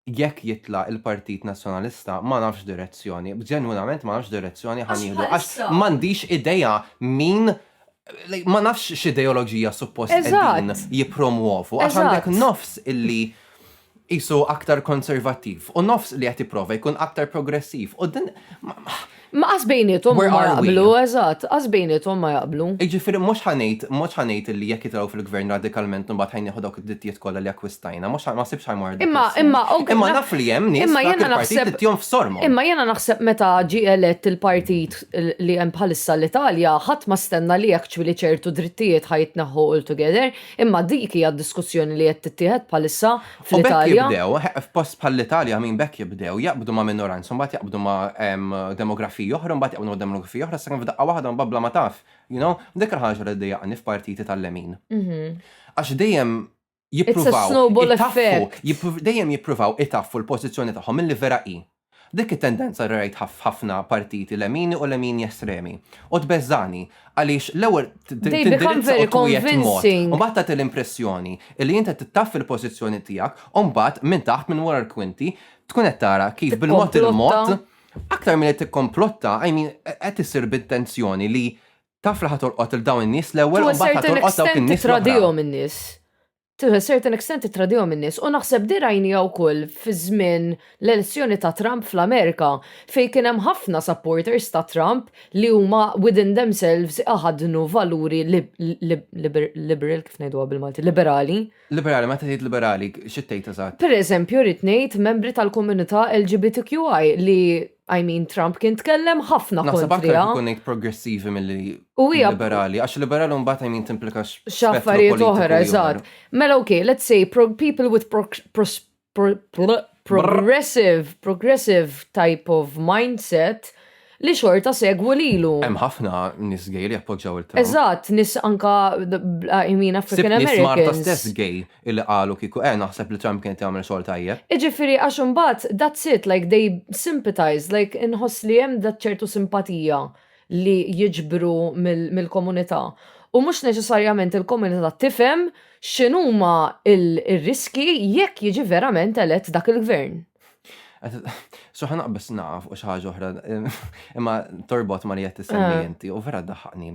jekk jitla' il-Partit Nazzjonalista ma nafx x'direzzjoni, ġenwinament ma nafx x'direzzjoni ħa nieħdu għax m'għandix idea min ma nafx x'ideoloġija suppost qegħdin jippromwovu għax għandek nofs illi qisu aktar konservattiv u nofs li qed jipprova jkun aktar progressiv u din Ma qas bejniethom ma jaqblu, eżatt, qas bejniethom ma jaqblu. Jiġifieri mhux ħanejt, mhux ħanejt li jekk jitilgħu fil-Gvern radikalment imbagħad ħa nieħu dawk id-drittijiet kollha li akkwistajna, mhux ma sibx ħa jmorru. Imma imma Imma naf li hemm nies dak il-partit li tihom f'sormhom. Imma jiena naħseb meta ġie elett il-partit li hemm bħalissa l-Italja ħadd ma stenna li actually ċertu drittijiet ħa jitneħħu altogether, imma dik hija d-diskussjoni li qed tittieħed bħalissa U bekk fl-Italja. jibdew, eh, f'post bħall-Italja minn bekk jibdew jaqbdu ma' minoranza, mbagħad jaqbdu ma' em, demografiji oħra, mbagħad jaqbdu ma' demografiji oħra, sakemm f'daqqa waħda mbagħad bla ma taf, you know? Dik il-ħaġa li ddejjaqni f'partiti tal-lemin. Għax dejjem jippruvaw snowball itaffu, effect. jippru- dejjem jippruvaw itaffu l-pożizzjoni tagħhom milli vera hi. Dik it-tendenza rajtha f'ħafna partiti lemini u lemini estremi. U tbeżżagħni, għaliex l-ewwel tindirizza u twiegħed mod, u mbagħad tagħti l-impressjoni li int qed tittaffi l-pożizzjoni tiegħek, u mbagħad minn taħt, minn wara l-kwinti, tkun qed tara kif bil-mod il-mod, aktar milli tikkomplotta, I mean, qed issir b'intenzjoni li taf li ħa tolqot lil dawn in-nies l-ewwel u mbagħad ħa tolqot dawk in-nies l-oħra. to a certain extent ittradihom in-nies u naħseb di rajniha wkoll fi żmien l-elezzjoni ta' Trump fl-Amerika fejn kien hemm ħafna supporters ta' Trump li huma within themselves iħaddnu valuri liberal kif ngħiduha bil-Malti? Liberali. Liberali, meta tgħid liberali, xi tgħid eżatt? Pereżempju rrid ngħid membri tal-komunità LGBTQI li I mean, Trump kien tkellem ħafna kontra. Naħseb aktar ikun ngħid progressivi mill-li liberali, għax liberali mbagħad I mean timplika x'affarijiet oħra, eżatt. Mela okay, let's say people with progressive, progressive type of mindset li xorta segwu lilu. Hemm ħafna nis gay li jappoġġaw il-Trump. Eżatt, nis anka I mean African Americans. Nis Marta stess gay. illi qalu kieku eh naħseb li Trump kien qed jagħmel xogħol tajjeb. Iġifieri għax imbagħad that's it like they sympathize like inħoss li hemm dak ċertu simpatija li jiġbru mill-komunità u mhux neċessarjament il-komunità tifhem x'inhuma r-riskji jekk jiġi verament elett dak il-gvern. So ħa naqbeż nagħlaq fuq xi ħaġa oħra imma torbot ma' li qed issemmi inti u vera ddaħħaqni.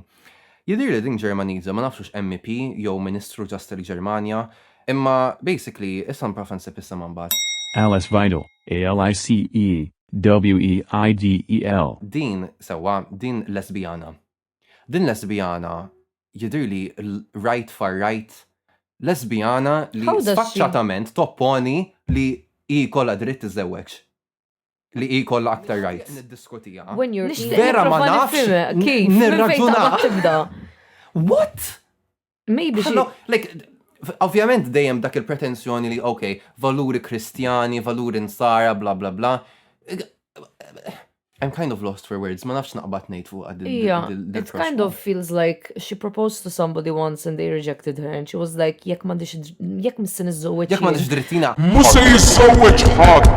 Jidhirli din Ġermaniża, ma nafx hux MEP jew Ministru ġast il-Ġermanja, imma basically issa nipprova nsib isimha mbagħad. Alice Weidel, A-L-I-C-E, W-E-I-D-E-L. Din, sewwa, din lesbijana. Din lesbijana jidhirli right far right, lesbijana li sfaċċatament topponi li hi jkollha dritt tiżżewweġ. li hi kollha aktar rajt. Vera ma nafx. Kif? Nirraġunax. What? Maybe she... Like, ovvjament dejjem dak il-pretensjoni li, ok, valuri kristjani, valuri nsara, bla bla bla. I'm kind of lost for words, ma nafx naqbad nejt fuq għad. Yeah, it kind of feels like she proposed to somebody once and they rejected her and she was like jekk m'għandix jekk missi niżżewweġ. Jekk m'għandix drittina. Mhux se jiżżewweġ ħadd.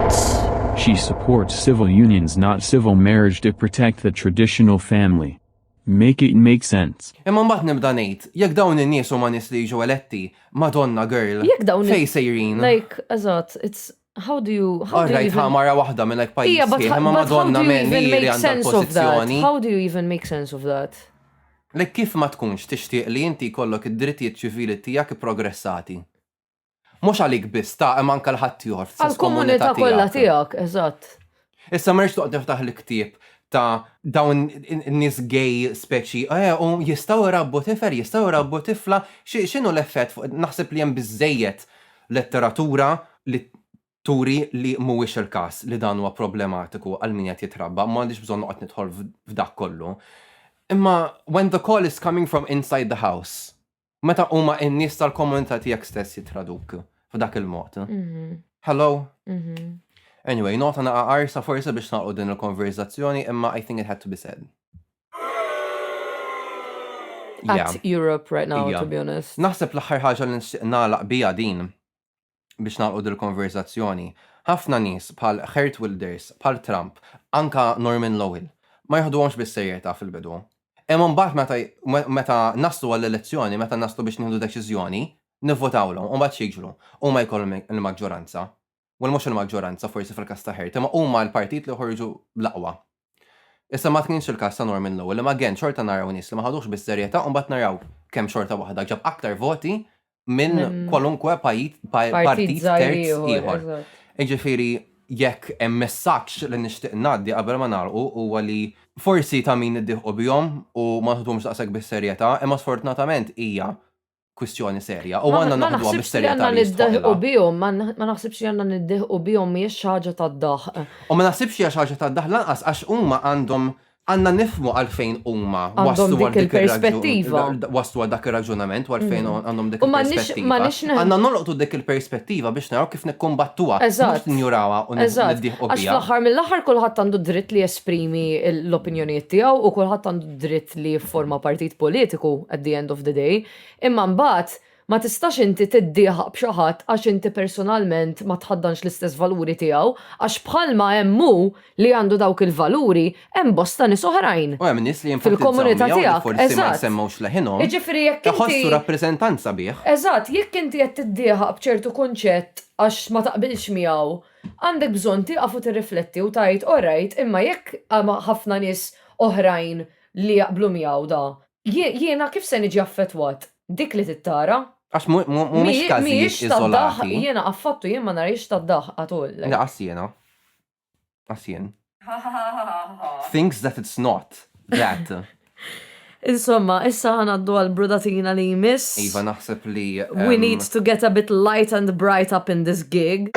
She supports civil unions not civil marriage to protect the traditional family. Make it make sense. Imma mbagħad nibda ngħid, jekk dawn in-nies huma nies li jiġu eletti, Madonna girl. Jekk dawn fejn sejrin? Like, eżatt, it's How do you how do you even... All mara waħda minn hekk pajjiż. Yeah, but, yeah, but how do you even make sense of that? How do you even make sense of that? Lek kif ma tkunx tixtieq li inti kollok id-drittijiet ċivili tiegħek progressati? Mhux għalik biss ta' hemm anke l-ħadd ieħor. Għall-komunità kollha tiegħek, eżatt. Issa ma rridx toqgħod niftaħ l-ktieb ta' dawn in-nies gay speċi, eh, u jistgħu jrabbu tifel, jistgħu jrabbu tifla, x'inhu l-effett fuq naħseb li hemm biżżejjed letteratura li turi li mhuwiex il-każ li dan huwa problematiku għal min qed jitrabba, ma għandix bżonn noqgħod nidħol f'dak kollu. Imma when the call is coming from inside the house, Meta huma n-nies tal-komunità tiegħek stess jittraduk f'dak il-mod. Mhm. Hello? Mhm. Anyway, nota naqa arsa forse biex naqgħu din il-konverzazzjoni imma I think it had to be said. At Europe right now, to be honest. Naħseb l-aħħar ħaġa li nixtieq nagħlaq bija din biex nagħlqu dil-konverżazzjoni, ħafna nies bħal Geert Wilders, bħal Trump, anka Norman Lowell, ma jiħduhomx bis-serjetà fil-bidu. Imma mbagħad meta meta naslu għall-elezzjoni, meta naslu biex nieħdu deċiżjoni, nivvotawlhom u mbagħad x'jiġru? Huma jkollhom il-maġġoranza. Well mhux il-maġġoranza forsi fil-każ ta' Geert, imma huma l-partit li joħorġu bl-aqwa. Issa ma kienx il-każ ta' Norman Lowell imma again xorta naraw nies li ma ħaduhx bis-serjetà u mbagħad naraw kemm xorta waħda ġab aktar voti minn kwalunkwe partit terz ieħor. Jiġifieri jekk hemm messaġġ li nixtieq ngħaddi qabel ma nagħlqu huwa li forsi ta' min iddieħqu bihom u ma nħduhomx daqshekk bis-serjetà imma sfortunatament hija kwistjoni serja u għandna naħduha bis-serjetà li jistħoqilha. Ma naħsibx li għandna niddiħqu bihom mhijiex xi ħaġa tad-daħq. U ma naħsibx li hija xi ħaġa tad-daħq lanqas għax huma għandhom għandna nifhmu għalfejn huma waslu għal dik il-perspettiva. Waslu għal dak ir-raġunament u għalfejn għandhom dik il-perspettiva. Għandna nolqtu dik il-perspettiva biex naraw kif nikkumbattuha, mhux ninjurawha u niddiħqu biha. Għax fl-aħħar mill-aħħar kulħadd għandu dritt li jesprimi l-opinjonijiet tiegħu u kulħadd għandu dritt li jifforma partit politiku at the end of the day, imma mbagħad ma tistax inti tiddieħaq b'xi ħadd għax inti personalment ma tħaddanx l-istess valuri tiegħu għax bħalma hemm hu li għandu dawk il-valuri hemm bosta nies oħrajn. U hemm nies li jinfetizzaw miegħu li forsi ma jsemmewx leħinhom. Jiġifieri jekk inti iħossu rappreżentanza bih. Eżatt, jekk inti qed tiddieħaq b'ċertu kunċett għax ma taqbilx miegħu Għandek bżonn tieqaf u tirrifletti u tgħid orajt imma jekk hemm ħafna nies oħrajn li jaqblu miegħu da, jiena kif se niġi affettwat? Dik li trid tara. Għax mhumiex każijiet iżolati. Jiena affattu jien ma narihiex tad-daħq at all. Laqas jiena. Laqas jien. Thinks that it's not that. Insomma, issa ħanaddu għal brudatina li jmiss. Iva, naħseb li. We ehm, need to get a bit light and bright up in this gig.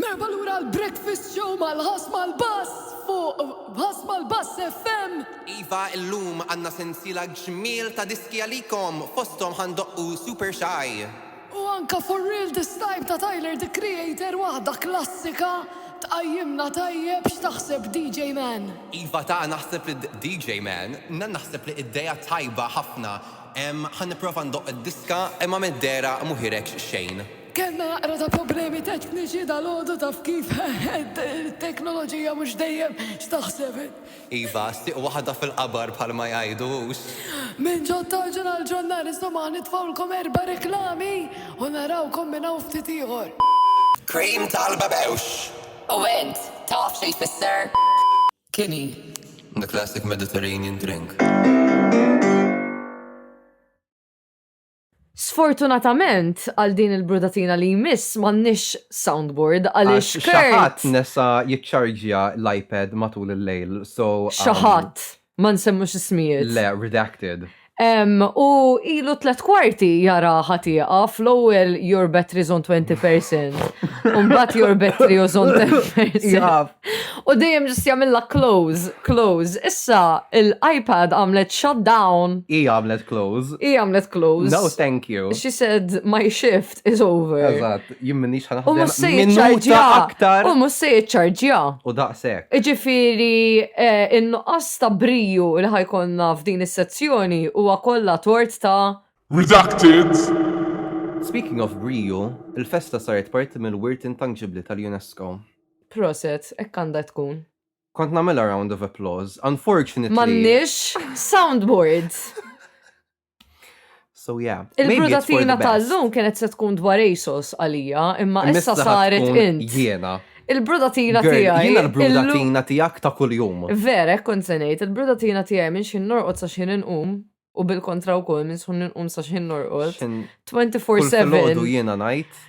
Merba lura l-breakfast show mal-ħas mal-bass fuq ħas mal-bass FM. Iva, illum għanna sensila ġmil ta' diski għalikom fostom ħandoqqu super shy. U anke For Real This Time ta' Tyler The Creator waħda klassika tqajjimna tajjeb x'taħseb DJ Man? Iva ta naħseb li DJ Man na naħseb li iddeja tajba ħafna emm ħa nipprova ndoqq id-diska imma middera mu hireġ xejn. Kellna naqra ta' problemi tekniċi dalgħodu taf kif it-teknoloġija mhux dejjem x'taħseb. Iva, sieq waħda fil-qabar bħalma jgħidu hux. Minn ġo t-tarġa għall-ġurnali stomah nitfgħulkom erba' reklami u narawkom minn hawn ftit ieħor. Cream tal-babewx! U int, taf xi jfisser? Quinine, the classic Mediterranean drink. Sfortunatament għal din il-brudatina li jmiss m'għandniex soundboard għaliex Kurt. Xi ħadd nesa jiċċarġja l-iPad matul il-lejl, so. Xi ħadd ma nsemmux ismijiet. Le, redacted. U ilu tlet kwarti jara ħatiqa fl-ewwel your battery is on 20%. Umbat your battery is on 10%. Jaf. U dejjem ġust jagħmilha close, close. Issa l-iPad għamlet shut down. Hi għamlet close. Hi għamlet close. No thank you. She said my shift is over. Eżatt, jien m'iniex ħa naħdem minuta aktar. U mhux se jiċċarġja. U daqshekk. Jiġifieri eh, in-nuqqas ta' briju li ħajkonna f'din is-sezzjoni huwa kollha tort ta' Redacted! Speaking of briju, il-festa saret parti mill-wirt intanġibbli tal-UNESCO. Proset, hekk għandha tkun. Kont nagħmilha round of applause. Unfortunately. M'għandniex soundboard. So yeah. Il-brudatina tal-lum kienet se tkun dwar ASOS għalija, imma issa saret int. Jiena. Il-brudatina tiegħi. Jiena l-brudatina tiegħek ta' kuljum. Vera, kont se ngħid, il-brudatina tiegħi minn xi norqod sa xi inqum u bil-kontra wkoll minn xi inqum sa xi norqod. 24/7. Jiena ngħid.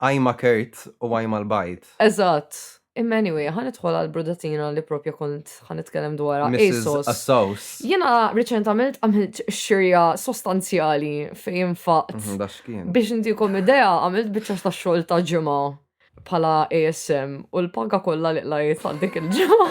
Għajma kert u għajma l-bajd. Eżatt. Imma anyway, ħa nidħol għal brudatina li propja kont ħa nitkellem dwarha. Mrs. ASOS. Assaus. Jiena riċentament għamilt xirja sostanzjali fejn faqt. Mhm, Da xkien. Biex intikom idea, għamilt biċċa ta' xogħol ta' ġimgħa bħala ASM u l-paga kollha li qlajt għal dik il-ġimgħa.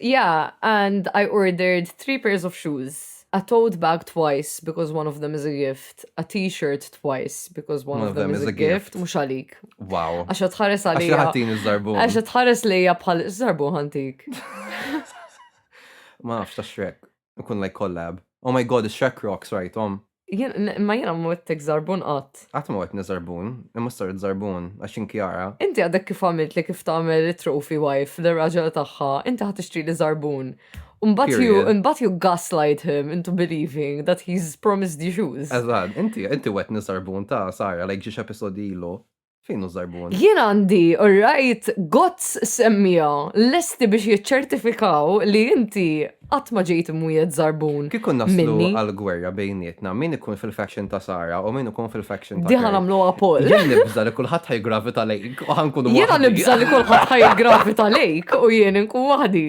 Yeah, and I ordered three pairs of shoes, a tote bag twice because one of them is a gift, a t-shirt twice because one of them is a gift, mhux għalik. Wow. Għax tħares għalija. Għax ħatin iż-żarbu. Għax tħares lejja bħal żarbu ħantik. Ma nafx ta' xrek. Ikun like collab. Oh my god, is-Shrek Rocks rajtom. Ma jena mwettek zarbun qatt. Qatt ma wetni zarbun, imma saret zarbun, għax inkjara. Inti għadek kif għamilt li kif tagħmel it-trophy wife l-raġel tagħha, inti ħadd tixtri li zarbun. Mbagħad you, mbagħad you gaslight him into believing that he's promised you shoes. Eżatt, inti inti wetni zarbun ta' Sara like ġiex episodi ilu. Fejn hu żarbun? Jien għandi, alright, gots semmija lesti biex jiċċertifikaw li inti qatt ma ġejt imwiet żarbun. Kif kun naslu għal-gwerra bejnietna, min ikun fil-faction ta' Sara u min ikun fil-faction ta' Diħa namlu għapol. Jien nibża li kulħadd ħajgravita lejk u ħankun Jien nibża li kulħadd ħajgravita lejk u jien nkun waħdi.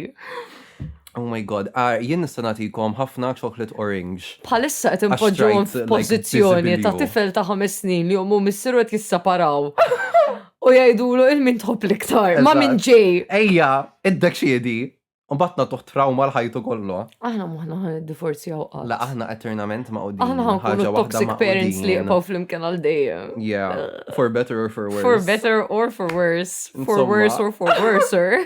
Oh my god, ah, jien nista' nagħtikom ħafna chocolate orange. Bħalissa qed inpoġġuhom f'pożizzjoni ta' tifel ta' ħames snin li ommu missieru qed jissaparaw. U jgħidulu il-min tħobb l-iktar, ma' min ġej. Ejja, iddeċiedi, u mbagħad nagħtuh trawma l-ħajtu kollu. Aħna moħħna ħan iddivorzjaw qatt. La aħna eternament ma' qudin. Aħna ħan kunu toxic parents li jibqgħu flimkien għal dejjem. Yeah, for better or for worse. For better or for worse. For worse or for worser.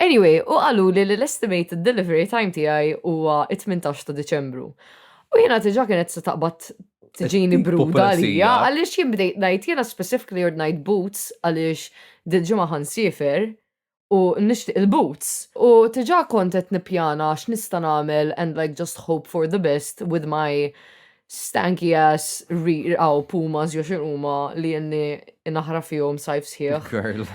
Anyway, u għalu li l-estimated delivery time tiegħi huwa 18 ta' Diċembru. U jiena tiġa kienet se taqbad tiġini bruda għalija, għaliex jien bdejt ngħid jiena specifically ordnajt boots għaliex dil-ġimgħa ħansifer u nixtieq il-boots. U tiġa kont qed nippjana x'nista' nagħmel and like just hope for the best with my Stanky ass rear aw pumas jew x'in huma li jenni naħra fihom sajf sħiħ. Girl.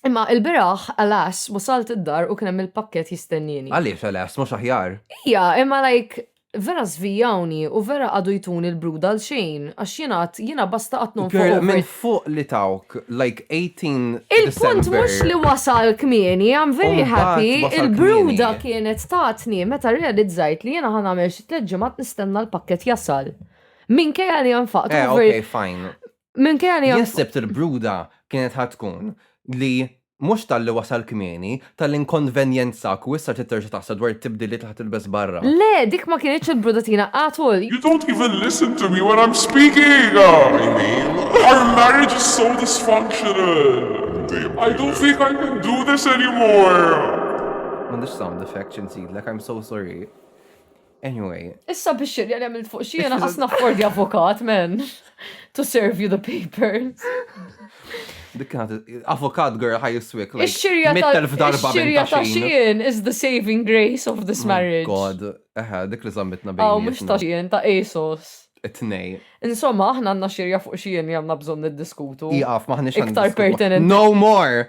Imma il-biraħ, alas, wasalt id-dar u kien hemm il-pakkett jistennieni. Għaliex alas, mhux aħjar? Ija, imma like vera żvijawni u vera qagħdu jtuni l-brud għal xejn għax jien għad jiena basta qatt nonfoq. Girl, minn fuq li tawk like 18 Il-punt December. mhux li wasal kmieni, I'm very Umbagħad happy. wasal Il-bruda kmieni. kienet tatni meta realizzajt li jiena ħa nagħmel Tliet ġimgħat nistenna l-pakkett jasal. Minkejja li nfaqtu. Eh, ok, fine. Minkejja li. Jesseb il-bruda kienet ħatkun li mux tal-li wasal kmieni, tal-inkonvenjenza ku issa titterġa taħsa dwar tibdili taħt il-bes barra. Le, dik ma kienieċ il-brudatina għatul. You don't even listen to me when I'm speaking! Our marriage is so dysfunctional! I don't think I can do this anymore! Mandiċ sound effect ċinsidlek, I'm so sorry. Anyway. Issa biex xirri għalem il fuq xie għana għasna fordi avokat, men. To serve you the papers. Dik avokat girl ħaj jiswik. Ix-xirja ta' xirja ta' xien is the saving grace of this oh marriage. God, eħe, dik li zammitna bejn. Aw, mux ta' xien, ta' Asos. It-nej. Insomma, aħna għanna xirja fuq xien li għanna bżon niddiskutu. Iqaf, maħni xan. Iktar pertinent. No more!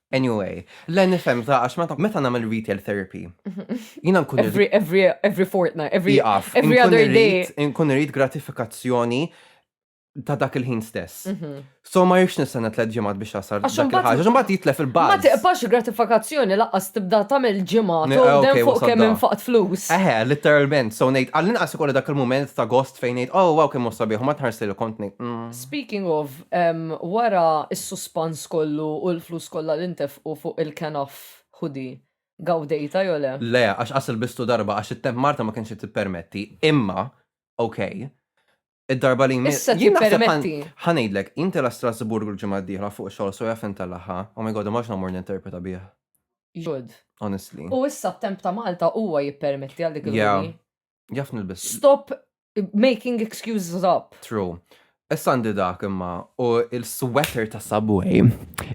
Anyway, le nifhem za għax meta meta nagħmel retail therapy. Jiena nkun irrid Every, every, every fortnight, every, jaqaf. every Inkun other day. irrid- Inkun irrid gratifikazzjoni ta' dak il-ħin stess. So ma jirx nistenna tliet ġimgħat biex jasal Mhm. Għax dak imbagħad- il-ħaġa. Imbagħad jitlef Ma il-buzz. tiqpax gratifikazzjoni laqqas tibda tagħmel ġimgħa Ne- tgħodem okay, fuq wasal kemm da. infaqt flus. Eħe, literalment, so ngħid, għall-inqas ikolli dak il-moment ta' gost fejn ngħid, oh, wow, kemm u sabiħ, u ma tħarsi li kont ngħid, mm. Speaking of, Wara s-suspans kollu u l-flus kollha li ntefqu fuq il-Kenough hoodie, gawdejtha jew le? Le, għax qas ilbistu darba għax it-temp Marta ma kienx qed tippermetti. Imma, ok, id-darba li jmiss. Issa tippermetti. Ħa ngħidlek, jien tilgħa Strasburgu l-ġimgħa d-dieħla fuq xogħol so jaf intellagħha. Oh my God, imma x'nagħmur ninterpreta bih. Jud. Honestly. U issa t-temp ta' Malta huwa jippermetti għal dik il-hoodie. Yeah. Jaf nilbes. Stop making excuses up. True. Issa għandi dak imma u il-sweater ta' Subway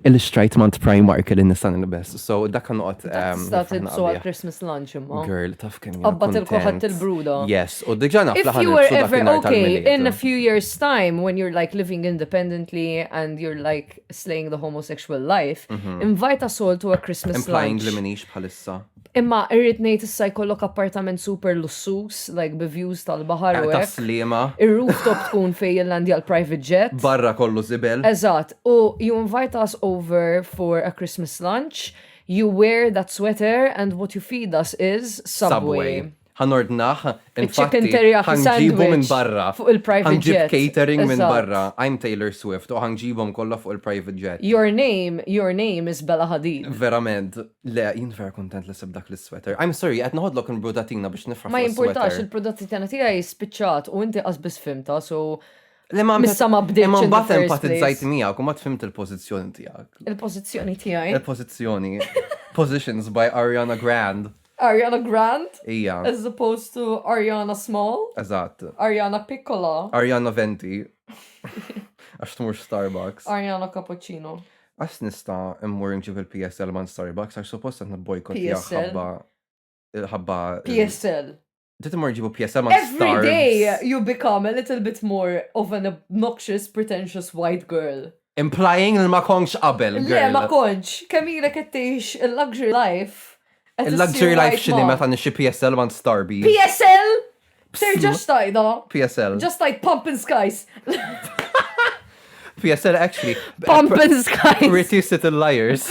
il-xtrajt mant Primark li nista' nilbes. So dak kan noqgħod. Ehm, sta tilbsu għal Christmas lunch imma. Girl, taf kemm. Qabbat il-koħat il-bruda. Yes, u diġà naf If you were ever okay in a few years time when you're like living independently and you're like slaying the homosexual life, mhm. invite us all to a Christmas lunch. Implying li minix bħalissa. Imma irrid ngħid issa jkollok appartament super lussuż, like bi views tal-baħar u hekk. Slima. Ir-rooftop tkun fejn jillandja l-private jet. Barra kollu żibel. Eżatt, u you invite us over for a Christmas lunch, you wear that sweater and what you feed us is Subway. Subway. Ħa nordnah, infatti, ħa nġibu minn barra. Ħa nġib catering minn barra, I'm Taylor Swift, u ħa nġibhom kollha fuq il-private jet. Your name, your name is Bella Hadid. Verament. Le, jien vera kuntent li sibt dak l-isweater. I'm sorry, qed noħodlok il-brudatina biex nifraħ fuq is-sweater. Ma jimpurtax, il-brudatina tiegħi spiċċat u inti qas biss fhimtha, so Issa ma bdejtx. Imma mbagħad empatizzajt miegħek u ma tfimt il-pożizzjoni tiegħek. Il-pożizzjoni tiegħi. Il-pożizzjoni. Positions by Ariana Grande. Ariana Grande. Hija. As opposed to Ariana Small. Eżatt. Ariana Piccola. Ariana Venti. Għax tmurx Starbucks. Ariana Cappuccino. Għas nista immur nġib il-PSL man Starbucks għax suppost qed nibboykot ħabba ħabba PSL. Dit imur ġibu pjesa ma' Every day you become a little bit more of an obnoxious, pretentious white girl. Implying li ma kontx qabel, girl. Le, ma kontx. Kemm ilek qed tgħix il-luxury life. Il-luxury life x'inhi meta nixtri PSL ma' Starbucks. PSL? Terġax tgħidha. PSL. Ġa stajt pump and skies. PSL actually. Pump and skies. Pretty little liars.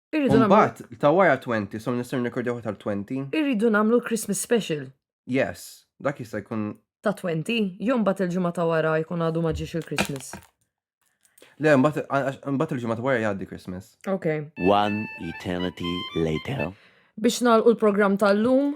Irridu nagħmlu. Mbagħad ta' wara 20, so nistgħu nirkordjaw tal-20. Irridu nagħmlu l-Christmas special. Yes, dak jista' jkun. Ta' 20, jom bat il-ġimgħa ta' wara jkun għadu ma ġiex il-Christmas. Le, mbagħad il-ġimgħa ta' wara jgħaddi Christmas. Ok. One eternity later. Biex nagħlqu l-programm tal-lum,